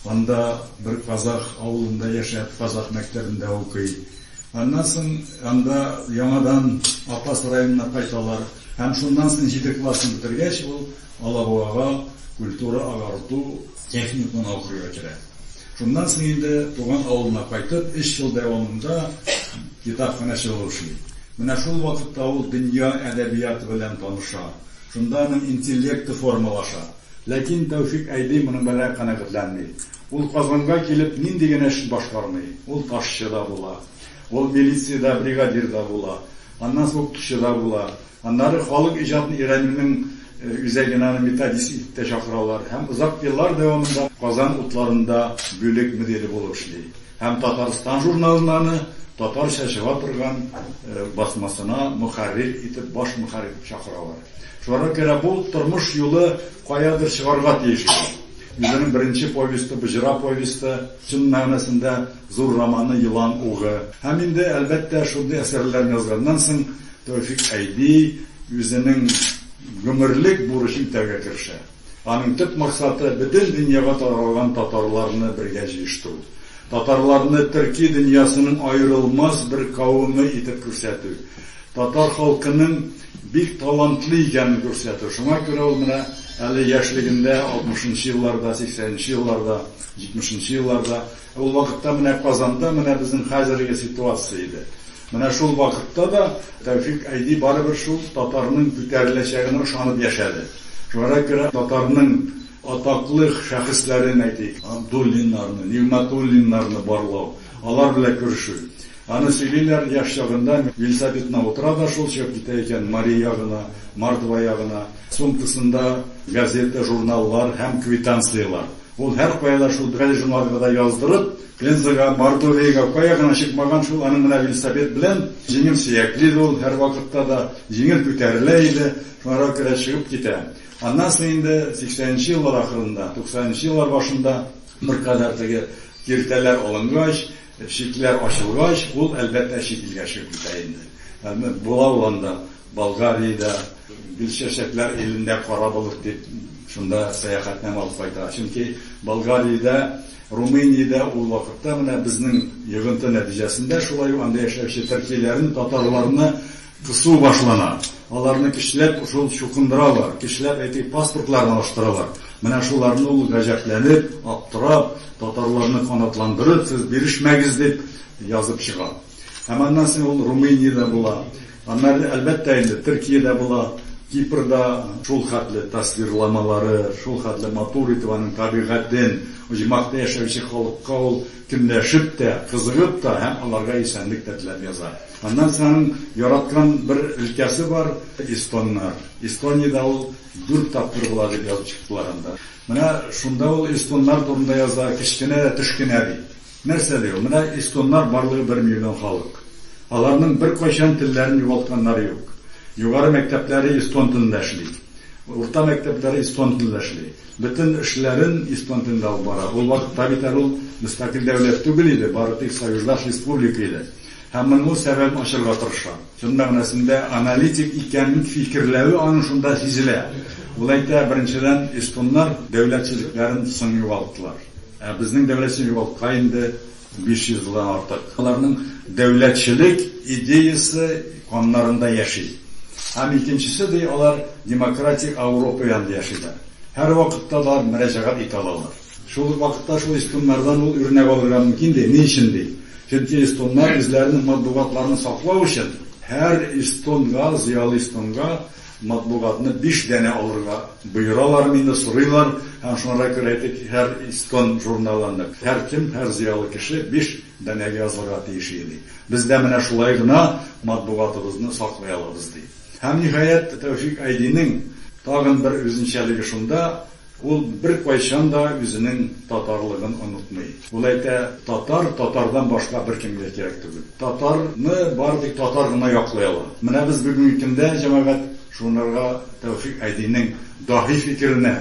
[SPEAKER 7] анда бер казах авылында яшәп, казах мәктәбендә укый. Аннан соң анда яңадан Апас районына кайталар һәм шуннан соң җиде классын бетергәч, ул Алабугага культура-агарту техникумына укырга керә. Шуннан соң инде туган авылына кайтып, өч ел дәвамында китапханәче булып эшли. Менә шул вакытта ул дөнья әдәбияты белән таныша, шунда аның интеллекты формалаша. Ләкин Тәүфик Әйби моның белән канәгатьләнми. Ул Казанга килеп нинди генә эш башкармый. Ул ташчы да була, ул милициядә бригадир да була, аннан соң укытучы да була. Аннары халык иҗатын өйрәнүнең үзәгенә аны методист итеп тә чакыралар һәм озак еллар дәвамында Казан утларында бүлек мөдире булып эшли һәм Татарстан журналына аны татарча чыга торган басмасына мөхәррир итеп, баш мөхәррир итеп чакыралар. Шуңа күрә бу тормыш юлы каядыр чыгарга тиеш иде. Үзенең беренче повесте, Боҗра повесте, чын мәгънәсендә Зур романы Елан угы. Һәм инде, әлбәттә, шундый әсәрләрен язганнан соң Тәүфик Әйди үзенең гомерлек бурычын үтәргә керешә. Аның төп максаты, бөтен дөньяга таралган татарларны бергә җыештыру. Татарларны төрки дөньясының аерылмас бер кавеме итеп күрсәтү. Татар халкының бик талантлы икәнен күрсәтү. Шуңа күрә ул менә әле яшьлегендә, алтмышынчы елларда, сиксәненче елларда, җитмешенче елларда Ул вакытта менә Казанда менә безнең хәзерге ситуация иде. Менә шул вакытта да Тәүфик Айди барыбер шул татарның күтәреләчәгенә ышанып яшәде. Шуңара күрә татарның атаклы шәхесләрен, әйтик, Абдуллиннарны, Нигъмәтуллиннарны барлау, алар белән күрешү. Аны сөйлиләр, яшь чагында велосипедына утыра да шул чыгып китә икән Мари ягына, Мордва ягына. Сумкасында газета, журналлар һәм квитанцияләр. Ул һәркая да шул берәр журналга да яздырып, Пензага, Мордовиягә кая гына чыкмаган, шул аның менә велосипед белән, җиңел сөякле иде ул һәрвакытта да, җиңел күтәрелә иде, шуңарга күрә чыгып китә. Аннан соң инде сиксәненче еллар ахырында, туксанынчы еллар башында беркадәр теге киртәләр алынгач, Чикләр ачылгач, ул, әлбәттә, чит илгә чыгып китә инде. Әмма була ул анда, Болгариядә, Гөлчәчәкләр илендә кара болыт дип, шунда сәяхәтнамә алып кайта. Чөнки Болгариядә, Румыниядә ул вакытта менә безнең йогынты нәтиҗәсендә шулай ук анда яшәүче төркиләрне, татарларны Кысу башлана. Аларны көчләп шул чукындыралар, көчләп әти паспортларын алыштыралар. Менә шуларны ул гаҗәпләнеп, аптырап, татарларны канатландырып, сез бирешмәгез дип язып чыга. Һәм аннан соң ул Румыниядә була. Аннары, әлбәттә инде, Төркиядә була. Кипрда шул хәтле тасвирламалары, шул хәтле матур итеп аның табигатен, оҗмахта яшәүче халыкка ул көнләшеп тә, кызыгып та һәм аларга исәнлек тә теләп яза. Аннан соң яраткан бер өлкәсе бар, эстоннар. Эстониядә ул дүрт тапкыр була дип язып чыктылар анда. Менә шунда ул эстоннар турында яза, кечкенә дә төшкенә ди. Нәрсә ди ул? Менә эстоннар барлыгы бер миллион халык. Аларның беркайчан телләрен югалтганнары юк. Югары мәктәпләре эстон телендә эшли. Урта мәктәпләре эстон телендә эшли. Бөтен эшләрен эстон телендә алып бара. Ул вакытта бит әле ул мөстәкыйль дәүләт түгел иде, бары тик союздаш республика иде. Һәм моның сәбәбен ачарга тырыша. Чын мәгънәсендә аналитик икәнен фикерләве аның шунда сизелә. Ул әйтә, беренчедән, эстоннар дәүләтчелекләрен соң югалттылар. Ә безнең дәүләтчелек югалткач инде 500 елдан артык. Аларның дәүләтчелек идеясе каннарында яши. Һәм икенчесе, ди, алар демократик Ауропа янында яшиләр. Һәрвакытта да алар мөрәҗәгать итә алалар. Шул ук вакытта шул эстоннардан ул үрнәк алырга мөмкин, ди. Ни өчен, ди? Чөнки эстоннар үзләренең матбугатларын саклау өчен һәр эстонга, зыялы эстонга матбугатны биш данә алырга боералар мени, сорыйлар. Һәм шуңарга күрә әйтик, һәр эстон журналыны һәркем, һәр зыялы кеше биш данәгә язылырга тиеш иде, ди. Без дә менә шулай гына матбугатыбызны саклый алабыз, ди. Һәм, ниһаять, Тәүфик Айдинең тагын бер үзенчәлеге шунда, Ул беркайчан да үзенең татарлыгын онытмый. Ул әйтә, татар татардан башка беркемгә кирәк түгел. Татарны бары тик татар гына яклый ала. Менә без бүгенге көндә, җәмәгать, шунырга Тәүфик Айдинең даһи фикеренә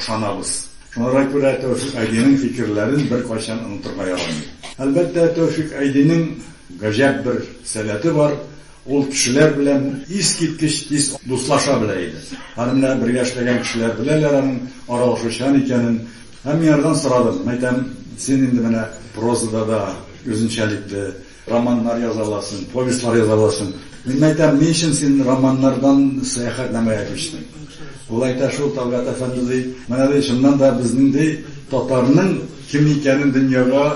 [SPEAKER 7] ышанабыз. Шунырга күрә Тәүфик Айдинең фикерләрен беркайчан онытырга ярамый. Әлбәттә, Тәүфик Айдинең гаҗәп бер сәләте бар. Ул кешеләр белән искиткеч тиз дуслаша белә иде. Һәм менә бергә эшләгән кешеләр беләләр аның аралашучан икәнен. Һәм мин анардан сорадым, мәйтәм, син инде менә прозада да үзенчәлекле романнар яза аласың, повестьлар яза аласың. Мин мәйтәм, ни өчен син романнардан сәяхәтнамәгә күчтең? Ул әйтә, шул Талгат әфәнде, ди, менә ди, чыннан да безнең ди, татарның кем икәнен дөньяга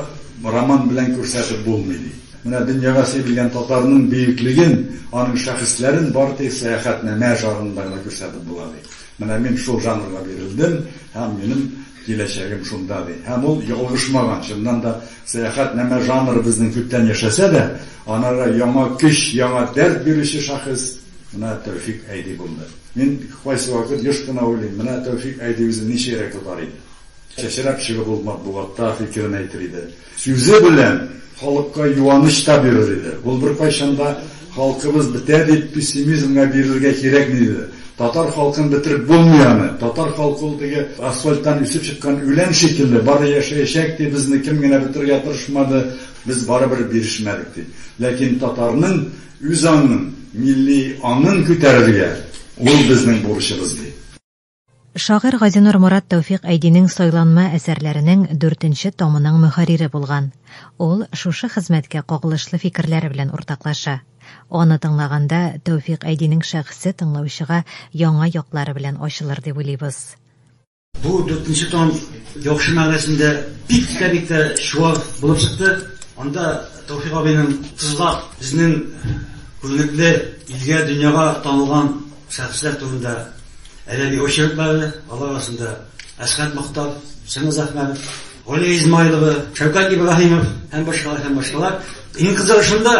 [SPEAKER 7] роман белән күрсәтеп булмый, ди. Менә дөньяга сибелгән татарның бөеклеген, аның шәхесләрен бары тик сәяхәтнамә жанрында гына күрсәтеп була, ди. Менә мин шул жанрга бирелдем һәм минем киләчәгем шунда, ди. Һәм ул ялгышмаган. Чыннан да, сәяхәтнамә жанры безнең күптән яшәсә дә, анарга яңа көч, яңа дәрт бирүче шәхес менә Тәүфик Әйди булды. Мин кайсы вакыт еш кына уйлыйм, менә Тәүфик Әйди үзен ничегрәк тотар иде? Чәчрәп чыгып ул матбугатта фикерен әйтер иде. Сүзе белән халыкка юаныч та бирер иде. Ул беркайчан да халкыбыз бетә дип пессимизмга бирелергә кирәкми диде. Татар халкын бетереп булмый аны. Татар халкы ул теге асфальттан үсеп чыккан үлән шикелле, бары яшәячәк, ди, безне кем генә бетерергә тырышмады, без барыбер бирешмәдек, ди. Ләкин татарның үз аңын, милли аңын күтәрергә ул безнең бурычыбыз, ди. Шагыйрь
[SPEAKER 2] Газинур Мурат Тәүфик Әйдинең Сайланма әсәрләренең дүртенче томының мөхәррире булган. Ул шушы хезмәткә кагылышлы фикерләре белән уртаклаша. Аны тыңлаганда, Тәүфик Әйдинең шәхесе тыңлаучыга яңа яклары белән ачылыр дип уйлыйбыз. Бу
[SPEAKER 8] дүртенче том яхшы мәгънәсендә бик тә бик тә чуар булып чыкты. Анда Тәүфик абыйның тызлап безнең күренекле илгә, дөньяга танылган Шәхесләр турында әдәби очерклары, алар арасында Әсхәт Мохтар, Чыңгыз Әхмәтов, Галия Измайлова, Шәүкәт Ибраһимов һәм башкалар һәм башкалар. Иң кызыгы шунда,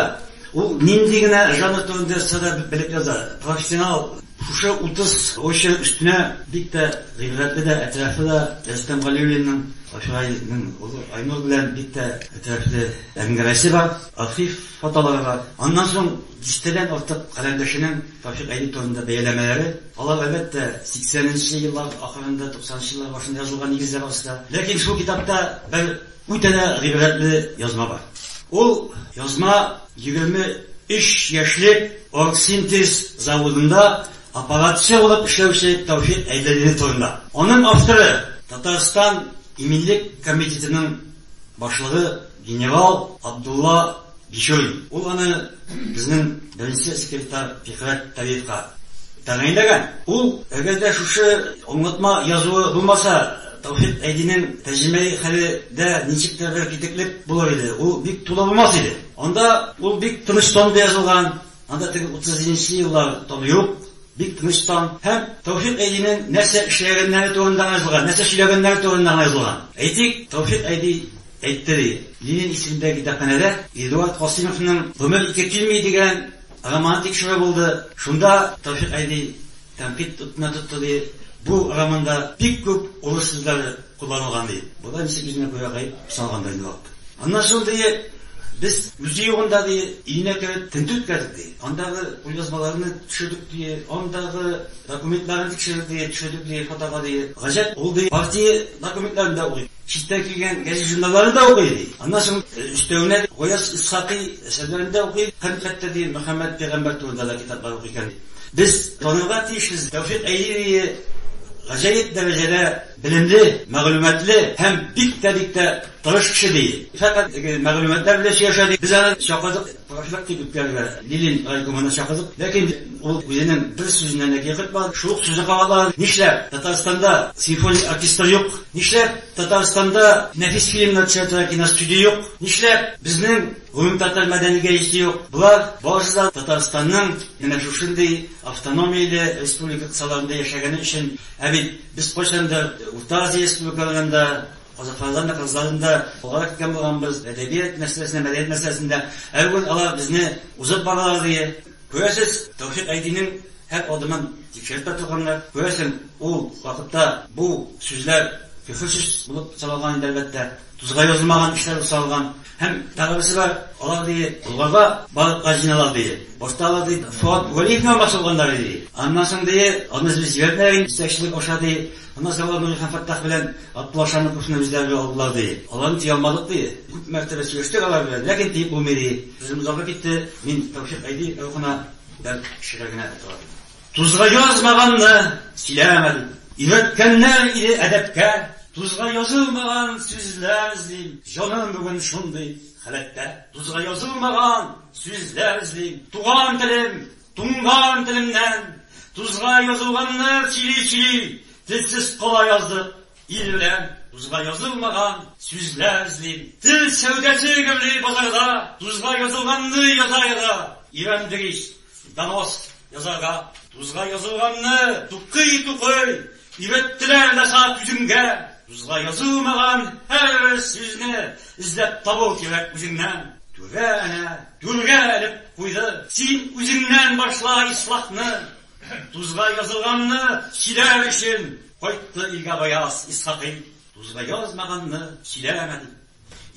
[SPEAKER 8] ул нинди генә жанр турында язса да белеп яза. Профессионал. Шушы 30 очерк өстенә бик тә гыйбрәтле дә, әтрәфле дә Рөстәм Галиуллинның Ашрайның улы Айнур белән бик тә әтрәфле әңгәмәсе бар, архив фотолары бар. Аннан соң дистәдән артык каләмдәшенең Тафик Әйүп турында бәяләмәләре, алар, әлбәттә, сиксәненче еллар ахырында, туксанынчы еллар башында язылган нигезләр астында. Ләкин шул китапта бер үтә дә гыйбрәтле язма бар. Ул язма егерме өч яшьлек Оргсинтез заводында аппаратчы булып эшләүче Тафик Әйдәлиле турында. Аның авторы, Татарстан иминлек комитетының башлыгы, Генерал Абдулла Бишоин. Ул аны безнең беренче секретарь Фикърәт Талиевка тәгаенләгән. Ул, әгәр дә шушы аңлатма язуы булмаса, Таухид Әйдинең тәрҗемәи хәле дә ничектер бер китеклек булыр иде, ул бик тулы булмас иде. Анда ул бик тыныч тонда язылган, анда теге утыз җиденче еллар тоны юк, бик тыныч тон. Һәм Таухид Әйдинең нәрсә эшләгәннәре турында гына язылган, нәрсә сөйләгәннәре турында гына язылган. Әйтик, Таухид Әйди Әйтте, ди, Ленин исемендәге китапханәдә Эдуард Касыймовның Гомер ике килми дигән романы тикшерү булды. Шунда Тәүфик әби тәнкыйть утына тотты, ди, Бу романда бик күп урыс сүзләре кулланылган, ди. Болай ничек үзенә күрә гаеп санаган да инде вакыт. Аннан соң, ди, без үзе югында, ди, өенә кереп тентү үткәрдек, ди. Андагы кулъязмаларны төшердек, ди, андагы документларны тикшердек, ди, төшердек, ди, фотога, ди. Гаҗәп, ул, ди, партия документларын да укый, читтән килгән гәҗит-журналларны да укый, ди. Аннан соң өстәвенә Гаяз Исхакый әсәрләрен дә укый, хәкыйкатьтә, ди, Мөхәммәд пәйгамбәр турында да китаплар укый икән, ди. Без танырга тиешбез, Тәүфикъ Әйевине гаҗәеп дәрәҗәдә белемле, мәгълүматлы һәм бик тә, бик тә тырыш кеше, ди. Фәкать теге мәгълүматлар белән сөйләшә, ди. Без аны чакырдык. Каршылык дип үпкәләде Лилин райкомына чакырып. Ләкин ул үзенең бер сүзенә дә киеркытмады. Шул ук сүзне кабатлаган, Нишләп Татарстанда симфоник оркестр юк? Нишләп Татарстанда нәфис фильмнар төшәтергә киностудия юк? Нишләп безнең гомумтатар мәдәни гәҗите юк? Болар барысы да Татарстанның менә шушындый автономияле республика кысаларында яшәгәне өчен. Ә бит без кайчандыр Урта Азия республикаларында, Азатлардан да, кызлардан да алгарак киткән булганбыз, әдәбият мәсьәләсендә, мәдәният мәсьәләсендә. Ә бүген алар безне узып баралар, ди. Күрәсез, Тәүфик Айдинең һәр адымын тикшереп тә торганнар. Күрәсең, ул вакытта бу сүзләр көфер сүз булып саналган иде, әлбәттә. Тузга язылмаган эшләр булып саналган. Һәм тагы берсе бар, алар ди, Болгарда балыкка җыйналалар ди. Башта алар ди, Фоат Вәлиевне алмакчы булганнар ди. Аннан соң ди, аны без җибәрмәгән инде, җитәкчелек аша ди. Аннан соң алар Нури һәм Фәттах белән Абдулла Шамил кушуны үзләренә алдылар ди. Аларны тия алмадык ди. Күп мәртәбә сөйләштек алар белән, ләкин тиеп булмый ди. Сүзем озарга китте, мин Тәүфикъ Әйдиев рухына бәлки кешегә генә әйтә алам. Тузга язмаганны сөйләмәдем. Өйрәткәннәр иде әдәпкә. Тузга язылмаган сүзләр эзлим. Җаным бүген шундый халәттә. Тузга язылмаган сүзләр эзлим. Туган телем, туңган телемнән. Тузга язылганны сөйли-сөйли. Телсез кала яздык ил белән. Тузга язылмаган сүзләр эзлим. Тел сәүдәсе гөрлый базарда. Тузга язылганны яза-яза. Өйрәндек ич. Донос язарга дузга язылганны тукый-тукый өйрәттеләр дә саат үземгә. Дузга язылмаган һәр сүзне эзләп табу кирәк үзеңнән. Түрә әнә түргә элеп куйды. Син үзеңнән башла ислахны. Дузга язылганны сөйләр өчен кайтты илгә Гаяз Исхакый. Дузга язмаганны сөйләмә дип.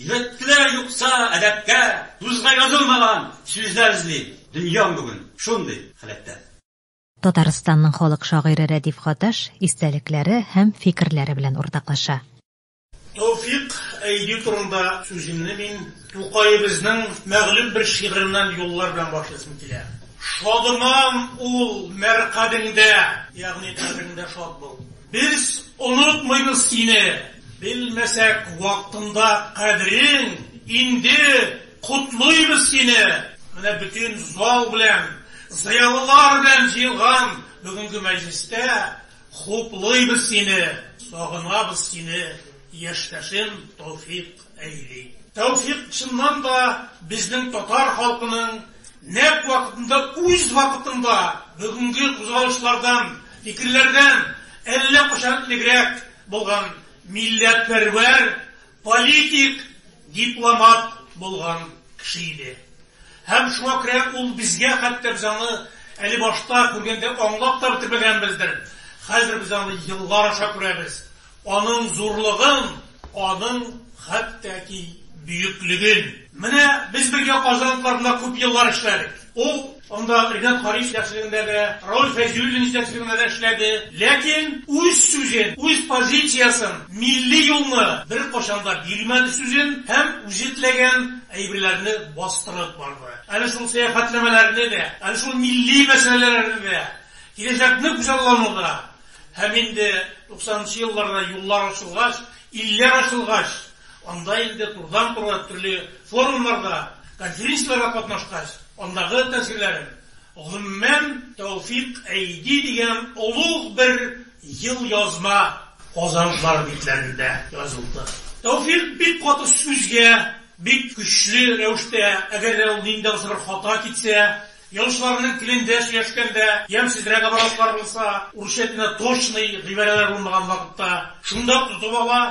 [SPEAKER 8] Йөктеләр юкса әдәпкә, тузга язылмаган сүзләр эзли. Дөньям бүген шундый халәттә. Татарстанның
[SPEAKER 2] халык шагыйре Рәдиф Гаташ истәлекләре һәм фикерләре белән уртаклаша. Тәүфик
[SPEAKER 9] Әйди турында сүземне мин Тукаебызның мәгълүм бер шигыреннән юллар белән башлыйсым килә. Шадыман ул мәр кадеңдә, ягъни кадереңдә шат бул. Без онытмыйбыз сине, белмәсәк вакытында кадерен, инде котлыйбыз сине! Менә бөтен зал белән, зыялылар белән җыелган бүгенге мәҗлестә хуплыйбыз сине, сагынабыз сине, яшьтәшем Товфик! әйли. Тәүфик чыннан да безнең татар халкының нәкъ вакытында, үз вакытында бүгенге кузгалышлардан, фикерләрдән әллә кайчан элегрәк булган милләтпәрвәр, политик, дипломат булган кеше иде. Һәм шуңа күрә ул безгә, хәтта без аны әле башта күргәндә аңлап та бетермәгәнбездер, хәзер без аны еллар аша күрәбез. Аның зурлыгын, аның хәтта ки бөеклеген. Менә без бергә Казан атларында күп еллар эшләдек. Ул анда Ринат Кариев җитәкчелегендә дә, Рауль Фәйзуллин җитәкчелегендә дә эшләде. Ләкин үз сүзен, үз позициясен, милли юлны беркайчан да бирмәде сүзен һәм үзе теләгән әйберләрне бастырып барды. Әле шул сәяхәтләмәләрне дә, әле шул милли мәсьәләләрне дә, киләчәкне күзаллану да, Һәм инде туксанынчы елларда юллар ачылгач, илләр ачылгач, анда инде турыдан-туры төрле форумнарда, конференцияләрдә катнашкач, андагы тәэсирләрем, гомумән, Тәүфик Әйди дигән олуг бер елъязма Казанлылар битләрендә язылды. Тәүфик бик каты сүзгә, бик көчле рәвештә, әгәр дә ул нинди генә бер хата китсә, Язучыларның телендә сөйләшкәндә, ямьсезрәк образлар булса, урысча телендә точный гыйбарәләр булмаган вакытта, шунда ук тотып ала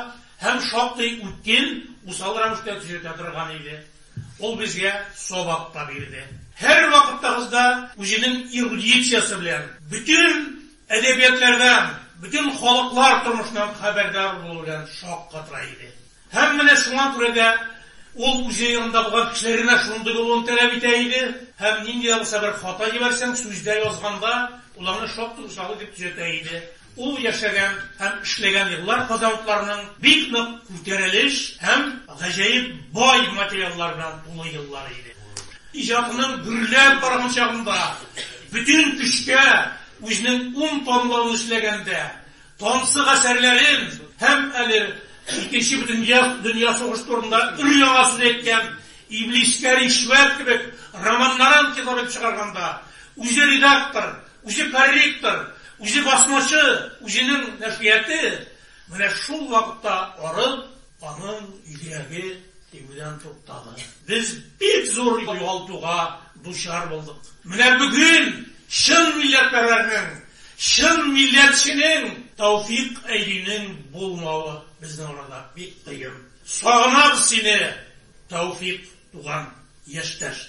[SPEAKER 9] һәм шактый үткен, усал рәвештә төзәтә торган иде. Ул безгә сабак та бирде. Һәрвакыттагызда үзенең эрудициясе белән, бөтен Әдәбиятләрдән, бөтен халыклар тормышыннан хәбәрдар булу белән шаккатыра иде. Һәм менә шуңа күрә дә ул үзе янында булган кешеләрдән дә шундый булуын тәләп итә иде һәм нинди дә булса бер хата җибәрсәң, сүздә, язганда, ул аны шактый усал итеп төзәтә иде. Ул яшәгән һәм эшләгән еллар казанлыларның бик нык күтәрелеш һәм гаҗәеп бай материаллар белән тулы еллары иде. Иҗатының гөрләп барган чагында бөтен көчкә, Үзенең ун томлыгын эшләгәндә, тансык әсәрләрен һәм әле Икенче бөтендөнья сугышы турында өр-яңа сүз әйткән Иблискә ришвәт кебек романнарын китап итеп чыгарганда, үзе редактор, үзе корректор, үзе басмачы, үзенең нәшрияте, менә шул вакытта арып, Аның йөрәге тибүдән туктады. Без бик зур югалтуга дучар булдык. Менә бүген чын милләтпәрвәрнең, чын милләтченең Тәүфик Әйдинең булмавы безнең арада бик кыен. Сагынабыз сине, Тәүфик туган, яшьтәш!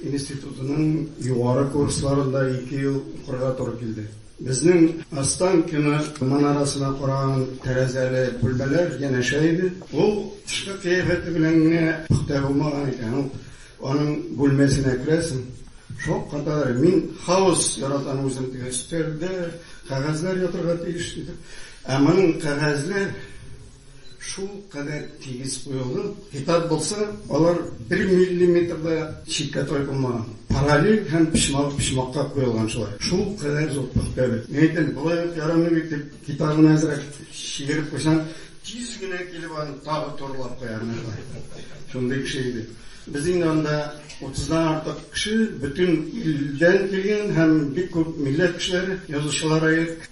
[SPEAKER 10] Институтының югары курсларында ике ел укырга туры килде. Безнең Останкино манарасына караган тәрәзәле бүлмәләр янәшә иде. Ул тышкы кыяфәте белән генә пөхтә булмаган икән. Ул аның бүлмәсенә керәсең, шаккатадыр, мин хаос яратам үзем, дип, өстәлдә кәгазьләр ятарга тиеш, диде. Ә моның кәгазьләр. Шул кадәр тигез куелган китап булса, алар бер миллиметр да читкә тайпылмаган, параллель һәм почмак почмакка куелган шулай. Шул кадәр зур пөхтә бит. Мин әйтәм, болай ук ярамый бит дип, китабын әзрәк чигереп куйсаң, тиз генә килеп аны тагы турылап куя. Менә шулай. Шундый кеше иде. Без инде анда утыздан артык кеше, бөтен илдән килгән һәм бик күп милләт кешеләре, язучылар.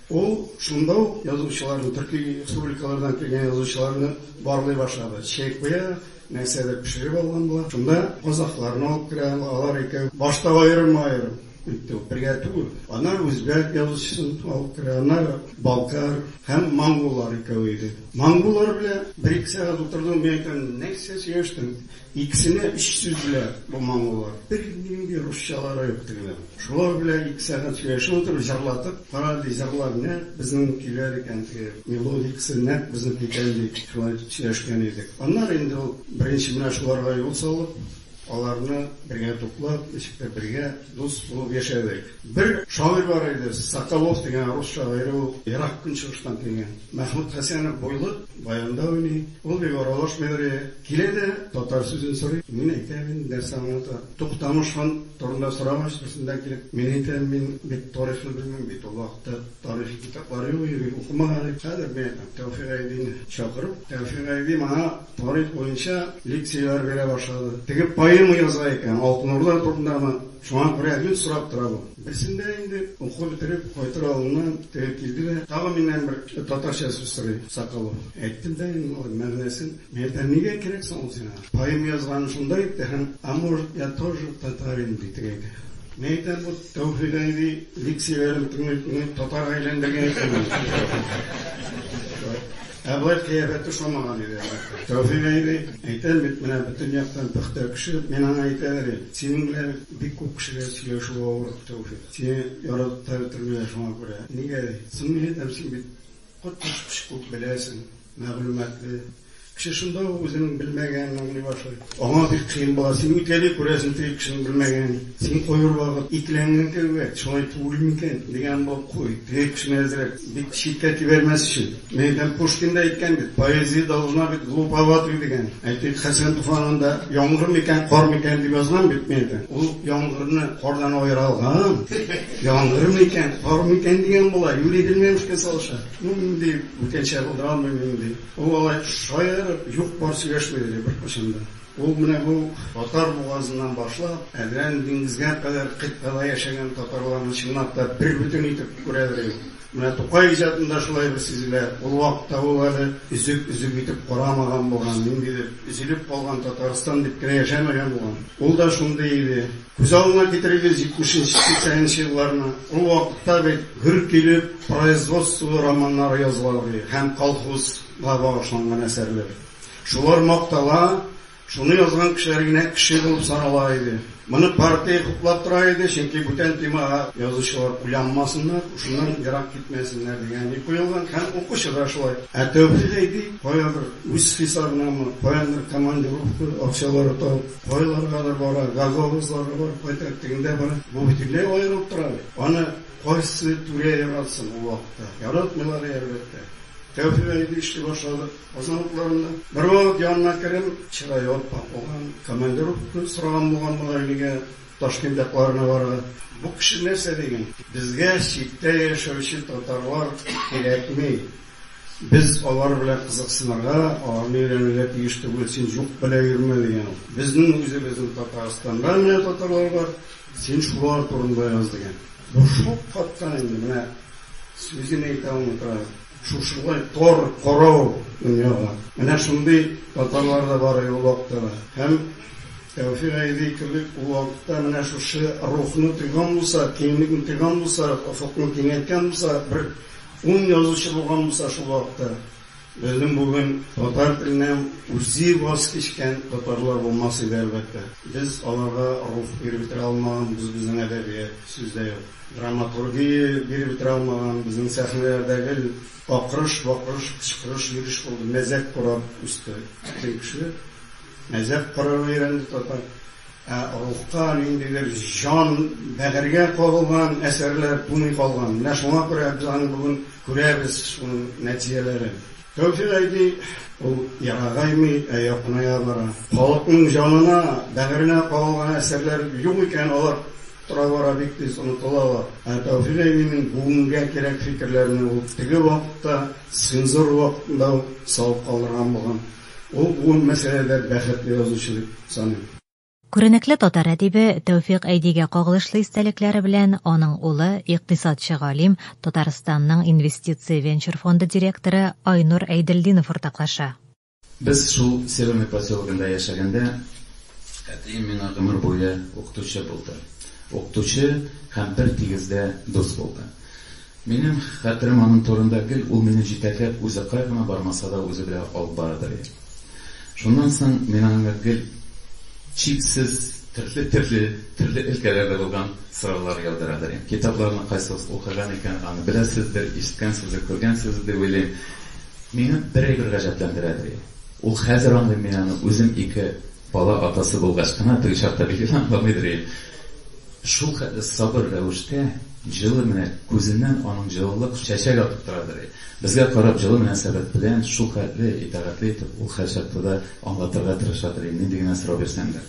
[SPEAKER 10] Ул шунда ук язучыларны, төрки республикалардан килгән язучыларны барлый башлады. Чәй куя, нәрсәдер пешереп алган була. Шунда казакъларны алып керә, алар икәү. Башта аерым-аерым итте ул, бергә түгел. Аннары үзбәк язучысын алып керә, аннары балкар һәм монголлар икәү иде. Монголлар белән бер-ике сәгать утырдым, мин әйтәм, нәрсә сөйләштең? Икесенә өч сүз белән бу моңлылар. Бернинди русчалары юк тегеләр. Шулар белән ике сәгать сөйләшеп утырып, җырлатып, кара әле, җырлар нәкъ безнең көйләр икән, теге мелодикасы нәкъ безнеке икән дип, шулай сөйләшкән идек. Аннары инде ул беренче менә шуларга юл салып, аларны бергә туплап, ничектер бергә дус булып яшәдек. Бер шагыйрь бар иде, Соколов дигән рус шагыйре, ул Ерак Көнчыгыштан килгән. Мәхмүт Хәсәнов буйлы, баянда уйный. Ул бик аралашмый йөри. Килә дә, татар сүзен сорый. Мин әйтәм инде, нәрсә аңлата. Туктамыш хан турында сорагач, берсендә килеп, мин әйтәм, мин бит тарихны белмим бит, ул вакытта тарихи китаплар юк иде бит, укымаган идек. Хәзер мин әйтәм, Тәүфик Айбине чакырып, Тәүфик Айби моңа тарих буенча лекцияләр бирә башлады. Теге поэма яза икән, Алтын Урда турындамы. Шуңа күрә гел сорап тора бу. Берсендә инде уку бетереп кайтыр алдыннан теге килде дә, тагын миннән бер татарча сүз сорый, Соколов. Әйттем дә инде малай мәгънәсен. Мин әйтәм, нигә кирәк соң ул сиңа? Поэма язганым шунда инде һәм, а может, я тоже татарин, ди теге әйтә. Мин әйтәм, бу Тәүфыйк әби лекцияләрен тыңлый-тыңлый татарга әйләндергән икән мине. Ә болай кыяфәте ошамаган иде, әлбәттә. Тәүфыйк әби, әйтәм бит, менә бөтен яктан пөхтә кеше. Мин аңа әйтәләр идем, синең белән бик күп кешегә сөйләшү авыр, Тәүфыйк. Сине яратып та бетермиләр шуңа күрә. Нигә ди? Соң мин әйтәм, син бит коточкыч күп беләсең, мәгълүматлы. Кеше шунда ук үзенең белмәгәнен аңлый башлый. Аңа бик кыен була. Син үтәли күрәсең теге кешенең белмәгәнен. Син кайбер вакыт икеләнгән кебек, Шулай түгел микән? Дигән булып куй. Теге кешене әзрәк Бик читкә тибәрмәс өчен. Нәйтәм Пушкин да әйткән бит, поэзия должна быть глуповатой дигән. Әйтик, Хәсән Туфанында яңгыр микән, кар микән дип язган бит, нәйтәм. Ул яңгырны кардан аера алган. Яңгыр микән, кар микән дигән була, юри белмәмешкә салыша. Ну, нинди бүтәнчә булдыра алмыйм мин, ди. Ул алай шаярып, юк-бар сөйләшми, ди, беркайчан да. Ул менә бу Татар бугазыннан башлап, Әдрән диңгезгә кадәр кыйтгада яшәгән татарларны чынлап та бербөтен итеп күрәдер инде. Менә Тукай иҗатында шулай бер сизелә. Ул вакытта ул әле өзек-өзек итеп карамаган булган, ниндидер өзелеп калган Татарстан дип кенә яшәмәгән булган. Ул да шундый иде. Күз алдына китерегез җитмешенче, сиксәненче елларны. Ул вакытта бит гөр килеп производстволы романнар языла иде һәм колхозга багышланган әсәрләр. Шулар мактала, шуны язган кешеләр генә кеше булып санала иде. Моны партия хуплап тора иде, чөнки бүтән темага язучылар уйланмасыннар, шуннан ерак китмәсеннәр дигән ни куелган һәм укучы да шулай. Ә Тәүфыйк әйди, каядыр үз хисабынамы, каяндыр командировка акчалары табып, кайларгадыр бара, гагаузларга барып кайта, тегендә бара. Бу бөтенләй аерылып тора бит. Аны кайсы түрә яратсын ул вакытта? Яратмыйлар, әлбәттә. Тәүфыйк әйди эшли башлады. Озын укларында. Бервакыт янына кереп, чырае аппак булган, командировка сораган булган Мулаилигә, Ташкент якларына бара. Бу кеше нәрсә диген? Безгә читтә яшәүче татарлар кирәкми. Без алар белән кызыксынырга, аларны өйрәнергә тиеш түгел, син җук белә йөрмә, дигән ул. Безнең үзебезнең Татарстанда менә татарлар бар, син шулар турында яз, дигән. Бу шул каттан инде менә сүзен әйтә алмый тора. Шушылай тар, карау дөньяга. Менә шундый татарлар да бар иде ул вакытта да. Һәм Тәүфик Гайди кебек ул вакытта менә шушы рухны тойган булса, киңлекне тойган булса, офыкны киңәйткән булса, бер ун язучы булган булса шул вакытта, безнең бүген татар теленә үзе ваз кичкән татарлар булмас иде, әлбәттә. Без аларга рух биреп бетерә алмаганбыз, безнең әдәбият, сүз дә юк. Драматургия биреп бетерә алмаган, безнең сәхнәләрдә гел акырыш, бакырыш, кычкырыш, йөреш булды, мәзәк кораб үсте бөтен кеше. Мәзәк корырга өйрәнде татар. Ә рухка ниндидер җан, бәгырьгә кагылган әсәрләр тумый калган. Менә шуңа күрә без аны бүген күрәбез, шуның нәтиҗәләрен. Тәүфик әйди, ул ерагаймый, ә якыная бара. Халыкның җанына, бәгыренә кагылган әсәрләр юк икән, алар. Тора-бара бик тиз онытылалар. Ә Тәүфик әбинең бүгенгә кирәк фикерләрне ул теге вакытта, цензура вакытында ук салып калдырган булган. Ул бу мәсьәләдә бәхетле язучы дип саныйм. Күренекле
[SPEAKER 2] татар әдибе Тәүфик Әйдигә кагылышлы истәлекләре белән аның улы, икътисадчы-галим, Татарстанның Инвестиция венчур фонды директоры Айнур Әйделдинов уртаклаша. Без шул
[SPEAKER 11] Северный поселогында яшәгәндә, әтием миңа гомер буе укытучы булды. Укытучы һәм бер тигездә дус булды. Минем хәтерем аның турында гел ул мине җитәкләп үзе кая гына бармаса да үзе белә алып барадыр иде. Шуннан соң мин аңа гел чиксез төрле төрле төрле өлкәләрдә булган сораулар яудырадыр идем. Китапларны кайсыгыз укыган икән аны беләсездер, ишеткәнсездер, күргәнсездер дип уйлыйм. Мине бер әйбер гаҗәпләндерә, ди. Ул хәзер аңлыйм мин аны, үзем ике бала атасы булгач кына, теге чакта бик итә аңламыйдыр идем. Шул хәтле сабыр рәвештә, җылы менә күзеннән аның җылылык чәчәк атып торадыр и. Безгә карап җылы мөнәсәбәт белән шул хәтле итагатьле итеп ул һәрчакта да аңлатырга тырышадыр и, нинди генә сорау бирсәң дә.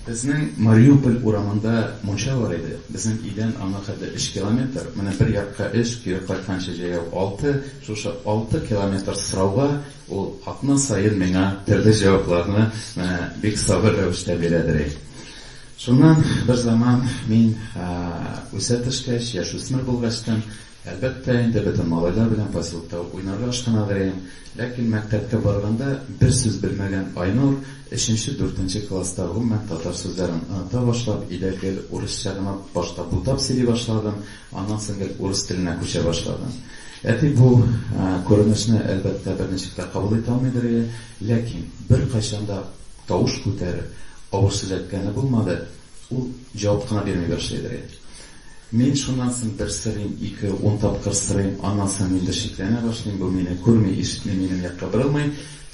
[SPEAKER 11] Безнең Мариуполь урамында мунча бар иде. Безнең өйдән аңа хәтле өч километр. Менә бер якка өч, кире кайтканчы җәяү алты. Шушы алты километр сорауга ул атна саен миңа төрле җавапларны менә бик сабыр рәвештә бирә, дери. Шуннан берзаман мин үсә төшкәч, яшүсмер булгачтын, Әлбәттә инде, бөтен малайлар белән поселкта уйнарга ашкынадыем. Ләкин мәктәпкә барганда бер сүз белмәгән Айнур, өченче, дүртенче класста гомумән татар сүзләрен оныта башлап, өйдә гел урысча гына башта бутап сөйли башладым, аннан соң гел урыс теленә күчә башладым. Әти бу күренешне, әлбәттә, берничек тә кабул итә алмыйдыр ие, ләкин беркайчан да тавыш күтәреп, авыр сүз әйткәне булмады, ул җавап кына бирми башлыйдыр ие. Мин шуннан соң бер сорыйм, ике, ун тапкыр сорыйм, аннан соң мин дә шикләнә башлыйм, бу мине күрми, ишетми, минем якка борылмый.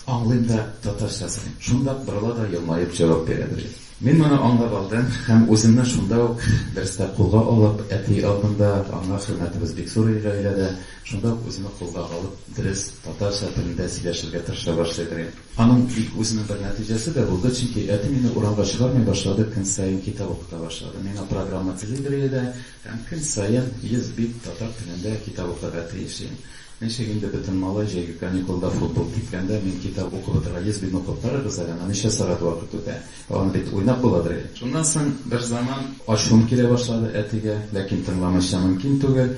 [SPEAKER 11] Аңлыйм да, татарча сорыйм. Шунда ук борыла да елмаеп җавап бирә, ди. Мин моны аңлап алдым һәм үземне шунда ук дәрестә кулга алып, әти алдында аңа хөрмәтебез бик зур иде гаиләдә, шунда ук үземне кулга алып, дөрес, татарча телендә сөйләшергә тырыша башлый, ди. Аның бит үзенең бер нәтиҗәсе дә булды, чөнки әти мине урамга чыгармый башлады, көн саен китап укыта башлады. Миңа программа телидер иде һәм көн саен 100 бит татар телендә китап укырга тиеш идем. Ничек инде бөтен малай җәйге каникулда футбол киткәндә мин китап укып утырырга, 100 битне укып карагыз әле, анда ничә сәгать вакыт үтә, ә аны бит уйнап буладыр әле. Шуннан соң берзаман ачуым килә башлады әтигә, ләкин тыңламыйча мөмкин түгел.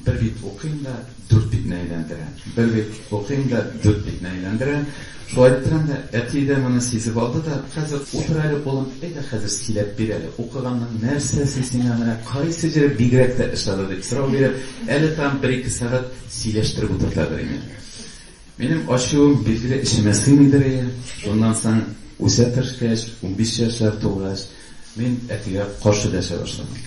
[SPEAKER 11] Бер бит укыйм да, дүрт битне әйләндерәм. Бер бит укыйм да, дүрт битне әйләндерәм. Шулай итеп торам да, әти дә моны сизеп алды да, Хәзер утыр әле, улым, әйдә хәзер сөйләп бир әле, укыганның нәрсәсе сиңа менә кайсы җире бигрәк тә ошады, дип сорау биреп, әле тагын бер-ике сәгать сөйләштереп утырта бер инде. Минем ачуым билгеле эчемә сыймый берәе, шуннан соң үсә төшкәч, унбиш яшьләр тулгач, мин әтигә каршы дәшә башладым.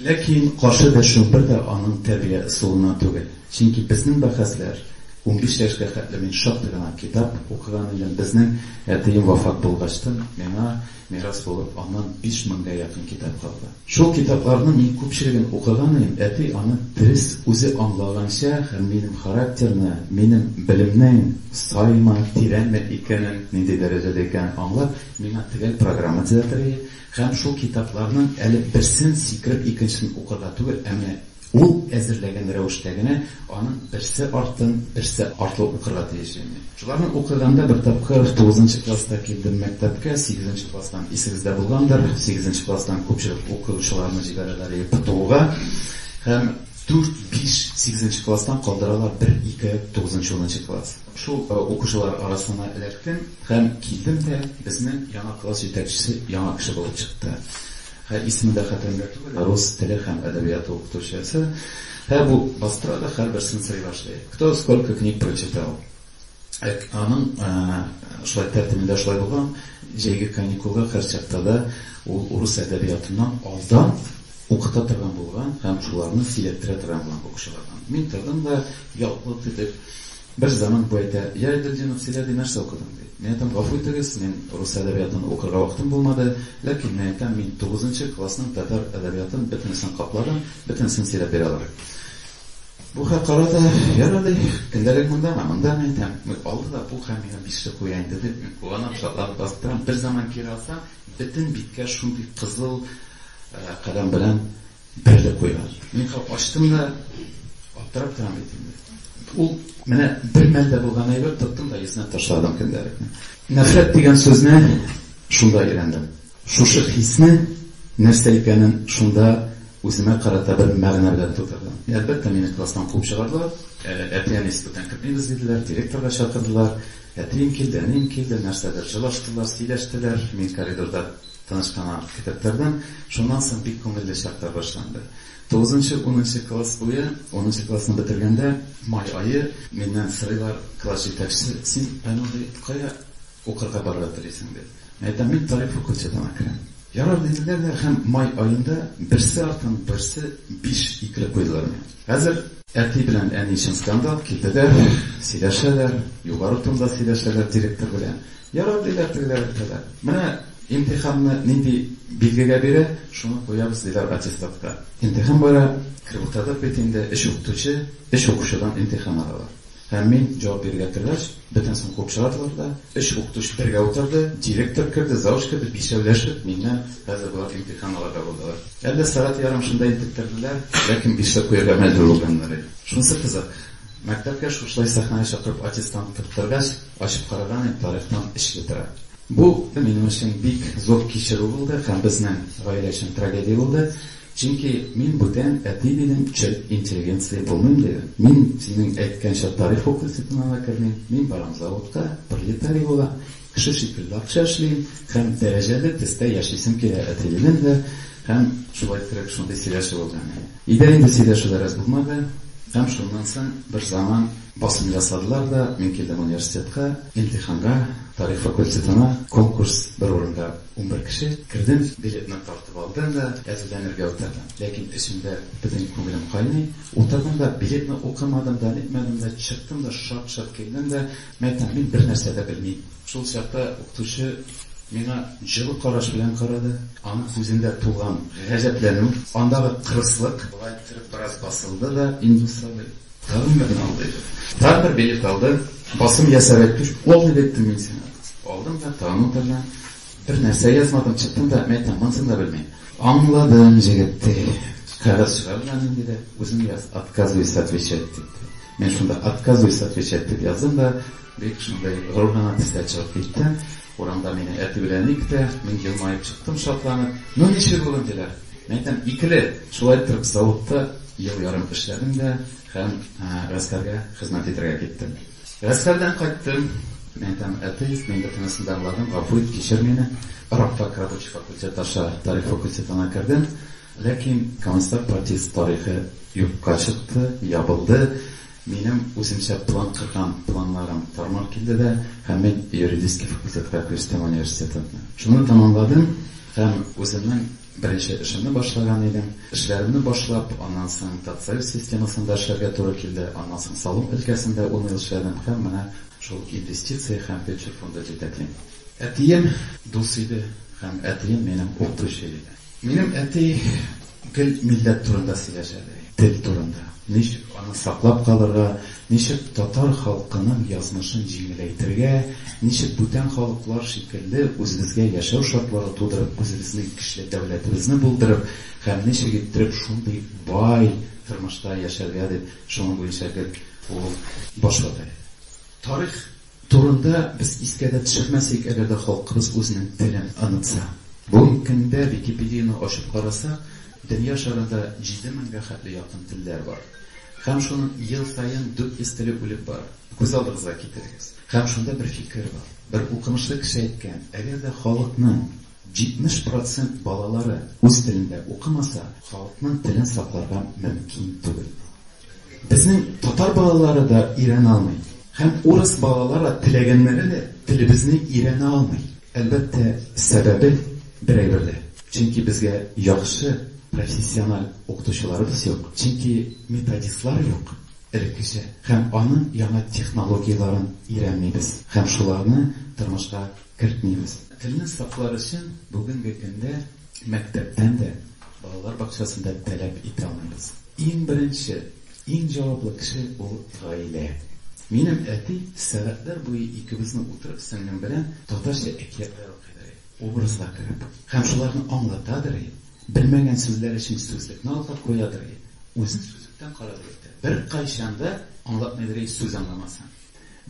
[SPEAKER 11] Ләкин каршы дәшүем бер дә аның тәрбия ысулыннан түгел, чөнки безнең бәхәсләр унбиш яшькә хәтле мин шактый гына китап укыган идем, безнең әтием вафат булгачтын, миңа мирас булып аннан биш меңгә якын китап калды. Шул китапларның мин күпчелеген укыган идем, әти аны дөрес үзе аңлаганча һәм минем характерны, минем белемнең саймы, тирәнме икәнен, нинди дәрәҗәдә икәнен аңлап, миңа төгәл программа төзәтергә һәм шул китапларның әле берсен сикереп икенчесен укырга түгел, ә менә Ул әзерләгән рәвештә генә аның берсе артын берсе артлы укырга тиеш ине. Шуларны укыганда бер тапкыр тугызынчы класста килдем мәктәпкә, сигезенче класстан исегездә булгандыр, сигезенче класстан күпчелек укучыларны җибәрәләр иде ПТУга һәм дүрт-биш сигезенче класстан калдыралар бер-ике тугызынчы-унынчы класс. Шул укучылар арасына эләктем һәм килдем дә безнең яңа класс җитәкчесе яңа кеше булып чыкты. Һә исеме дә хәтеремдә түгел, рус теле һәм әдәбияты укытучысы. Һә бу бастыра да һәрберсен сый башлый. Кто сколько книг прочитал. Ә аның шулай тәртибендә шулай булган, җәйге каникулга һәр чакта да ул урыс әдәбиятыннан алдан укыта торган булган һәм шуларны сөйләттерә торган булган укучылардан. Мин тордым да, ялт-йолт итеп, Бер заман поэты, Я, Эдельдинов, сөйлә ди, нәрсә укыдың? ди. Мин әйтәм, гафу итегез, мин рус әдәбиятын укырга вакытым булмады, ләкин мин әйтәм, мин тугызынчы классның татар әдәбиятын бөтенесен капладым, бөтенесен сөйләп бирә алырым. Бу хәл карады, Яра ди, көндәлек мондамы, мондамы әйтәм, алды да бу хәл миңа бишле куя инде дип, мин куанам, шатланып басып торам, бер заман кире алсам, бөтен биткә шундый кызыл каләм белән Бер дә куйган. Мин кап ачтым да, аптырап торам бит инде. Ул менә бер мәлдә булган әйбер тоттым да исенә ташладым көндәлекне. Нәфрәт дигән сүзне шунда өйрәндем. Шушы хисне нәрсә икәнен шунда үземә карата бер мәгънә белән тудырдым. Әлбәттә, мине класстан куып чыгардылар. Әти-әни институттан кертмибез диделәр, директорга чакырдылар. Әтием килде, әнием килде, нәрсәдер җылаштылар, сөйләштеләр. Мин коридорда Тынычлана китаплардан. Шуннан соң бик күңелле чаклар башланды. Тугызынчы, унынчы класс буе, унынчы классны бетергәндә, май ае, миннән сорыйлар, класс җитәкчесе, син, Айнур, ди, кая укырга барырга телисең, ди. Мин әйтәм, мин тарих факультетына керәм. Ярар, диделәр дә һәм май аенда берсе артыннан берсе биш икеләп куйдылар миңа. Хәзер әти белән әни өчен скандал, килделәр, сөйләшәләр, югары тонда сөйләшәләр директор белән. Ярар, диләр, тегеләр әйтәләр. Менә имтиханны нинди билгегә бирә, шуны куябыз, диләр аттестатка. Имтихан бара, кереп утырдык бит инде, өч укытучы, өч укучыдан имтихан алалар. Һәм мин җавап бирергә тергәч, бөтенесен куып чыгардылар да, өч укытучы бергә утырды, директор керде, завуч керде, бишәүләшеп миннән, Хәзер болар имтихан алырга булдылар. Әллә сәгать ярым шунда интектерделәр, ләкин бишле куярга мәҗбүр булганнар иде. Шунысы кызык, мәктәпкә шушылай сәхнәгә чакырып аттестант тоттыргач, ачып караган идем, тарихтан эчле тора. Бу минем өчен бик зур кичерү булды һәм безнең гаилә өчен трагедия булды. Чөнки мин бүтән әти дидем, черт интеллигенция булмыйм дидем. Мин, синең әйткәнчә, тарих факультетына да кермим, мин барам заводка, пролетарий булам, кеше шикелле акча эшлим һәм дәрәҗәле төстә яшисем килә, әти дидем дә һәм шулай кереп шундый сөйләшү булды. Өйдә инде сөйләшү бераз булмады һәм шуннан соң бер заман басым ясадылар да мин килдем университетка, имтиханга, тарих факультетына конкурс бер урында унбер кеше, кердем, билетны тарттым. Товардан да әзерләнергә утырдым. Ләкин эчемдә бөтен күңелем кайный. Утырдым да, билетны укымадым да, нитмәдем дә, чыктым да, шап-шоп килдем дә, мәйтәм, мин бер нәрсә дә белмим. Шул чакта укытучы миңа җылы караш белән карады. Аның күзендә тулган гаҗәпләнү, андагы кырыслык болай иттереп бераз басылды да, Индус абый, тагын берне ал, диде. Тагын бер билет алды. Басым ясап әйтте, Ул дип әйттем мин сиңа. Алдым да, тагын утырдым. Бер нәрсә язмадым, чыктым да, мә тә, монысын да белмим. Аңладым, җегет, ди. Кәгазь чыгар менә нинди дә, үзең яз, отказываюсь отвечать, дип. Мин шунда отказываюсь отвечать дип яздым да, бик шундый горур гына төстә чыгып киттем. Урамда мине әти белән ник тә, мин елмаеп чыктым шатланып. Ну ничек бүген диләр. Мин әйтәм, икеле. Шулай итеп заводта ел ярым эшләдем дә һәм гаскәргә хезмәт итәргә киттем. Гаскәрдән кайттым. Мин там атеист, мин бөтенесен дә аңладым, гафу ит, кичер мине. Рабфак рабочий факультеты аша тарих факультетына кердем. Ләкин коммунистлар партиясе тарихы юкка чыкты, ябылды. Минем үземчә план корган планнарым тар-мар килде дә һәм мин юридический факультетка күчтем университетны. Шуны тәмамладым һәм үземнең Беренче эшемне башлаган идем. Эшләремне башлап, аннан соң ТАТСАЮЗ системасында эшләргә туры килде, аннан соң салым өлкәсендә ун ел эшләдем һәм менә шул инвестиция һәм венчур фонды җитәклим. Әтием дус иде һәм әтием минем укытучы иде. Минем әти гел милләт турында сөйләшә дә, тел турында, ничек аны саклап калырга, Ничек татар халкының язмышын җиңеләйтергә, ничек бүтән халыклар шикелле үзебезгә яшәү шартлары тудырып, үзебезнең көчле дәүләтебезне булдырып һәм ничек иттереп шундый бай тормышта яшәргә дип, шуның буенча гел ул баш вата иде. Тарих. Турында без искә дә төшермәсек, әгәр дә халкыбыз үзенең телен онытса. Бүгенге көндә Википедияне ачып карасак, дөнья шарында җиде меңгә хәтле якын телләр бар. Һәм шуның ел саен 400 теле үлеп бара. Күз алдыгызга китерегез. Һәм шунда бер фикер бар. Бер укымышлы кеше әйткән, әгәр дә халыкның 70 процент балалары үз телендә укымаса, халыкның телен сакларга мөмкин түгел. Безнең татар балалары да өйрәнә алмый. Һәм урыс балалары теләгәннәре дә телебезне өйрәнә алмый. Әлбәттә, сәбәбе бер әйберле. Чөнки безгә яхшы профессиональ укытучыларыбыз юк. Чөнки методистлар юк, элеккечә. Һәм аның яңа технологияләрен өйрәнмибез. Һәм шуларны тормышка кертмибез. Телне саклар өчен бүгенге көндә мәктәптән дә, балалар бакчасын да таләп итә алмыйбыз. Иң беренче, иң җаваплы кеше ул гаилә. Минем әти сәгатьләр буе икебезне утырып сеңлем белән татарча әкиятләр укыйдыр иде, образга кереп. Һәм шуларны аңлатадыр иде. Белмәгән сүзләр өчен сүзлекне алга куядыр иде. Үзе сүзлектән карадыр иде. Беркайчан да аңлатмыйдыр иде сүз аңламасаң.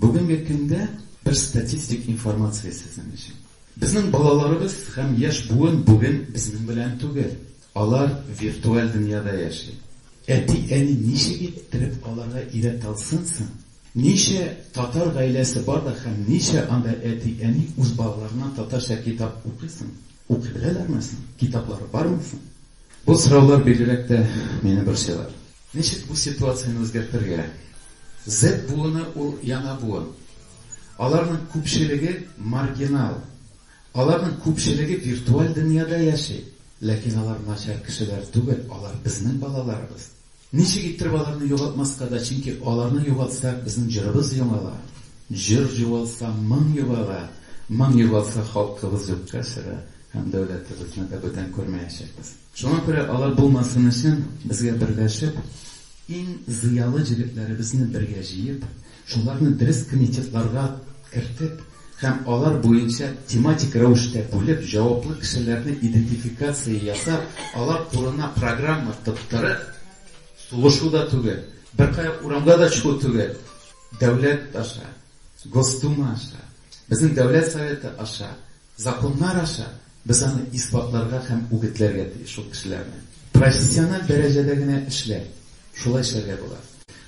[SPEAKER 11] Бүгенге көндә бер статистик информация сезнең өчен. Безнең балаларыбыз һәм яшь буын бүген безнең белән түгел. Алар виртуаль дөньяда яши. Әти-әни ничек иттереп аларга өйрәтә алсын соң? Ничә татар гаиләсе бар да һәм ничә анда әти-әни үз балаларына татарча китап укый соң? Укый беләләрме соң? Китаплары бармы соң? Бу сораулар бигрәк тә мине борчыйлар. Ничек бу ситуацияне үзгәртергә? Z буыны ул яңа буын. Аларның күпчелеге маргинал. Аларның күпчелеге виртуаль дөньяда яши. Ләкин алар начар кешеләр түгел, алар безнең балаларыбыз. Ничек иттереп аларны югалтмаска да, чөнки аларны югалтсак, безнең җырыбыз юңала, җыр югалса, моң югала, моң югалса, халкыбыз юкка чыга һәм дәүләтебезне дә бүтән күрмәячәкбез. Шуңа күрә алар булмасын өчен, безгә берләшеп, иң зыялы җегетләребезне бергә җыеп, Шуларны дөрес комитетларга кертеп һәм алар буенча тематик рәвештә бүлеп, җаваплы кешеләрне идентификация ясап, алар турына программа тоттырып, сулышу да түгел, беркая урамга да чыгу түгел, дәүләт аша, Госдума аша, безнең Дәүләт Советы аша Законнар аша без аны исбатларга һәм үгетләргә тиеш шул кешеләрне. Профессиональ дәрәҗәдә генә эшлә. Шулай эшләргә була.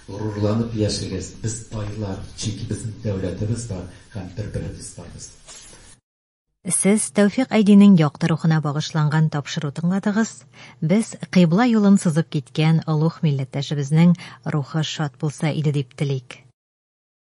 [SPEAKER 11] Горурланып яшәгез, без тайлар, чөнки безнең дәүләтебез бар һәм бер-беребез барбыз.
[SPEAKER 2] Сез Тәүфик Айдинең якты рухына багышланган тапшыру тыңладыгыз. Без кыйбла юлын сызып киткән олуг милләттәшебезнең рухы шат булса иде дип телик.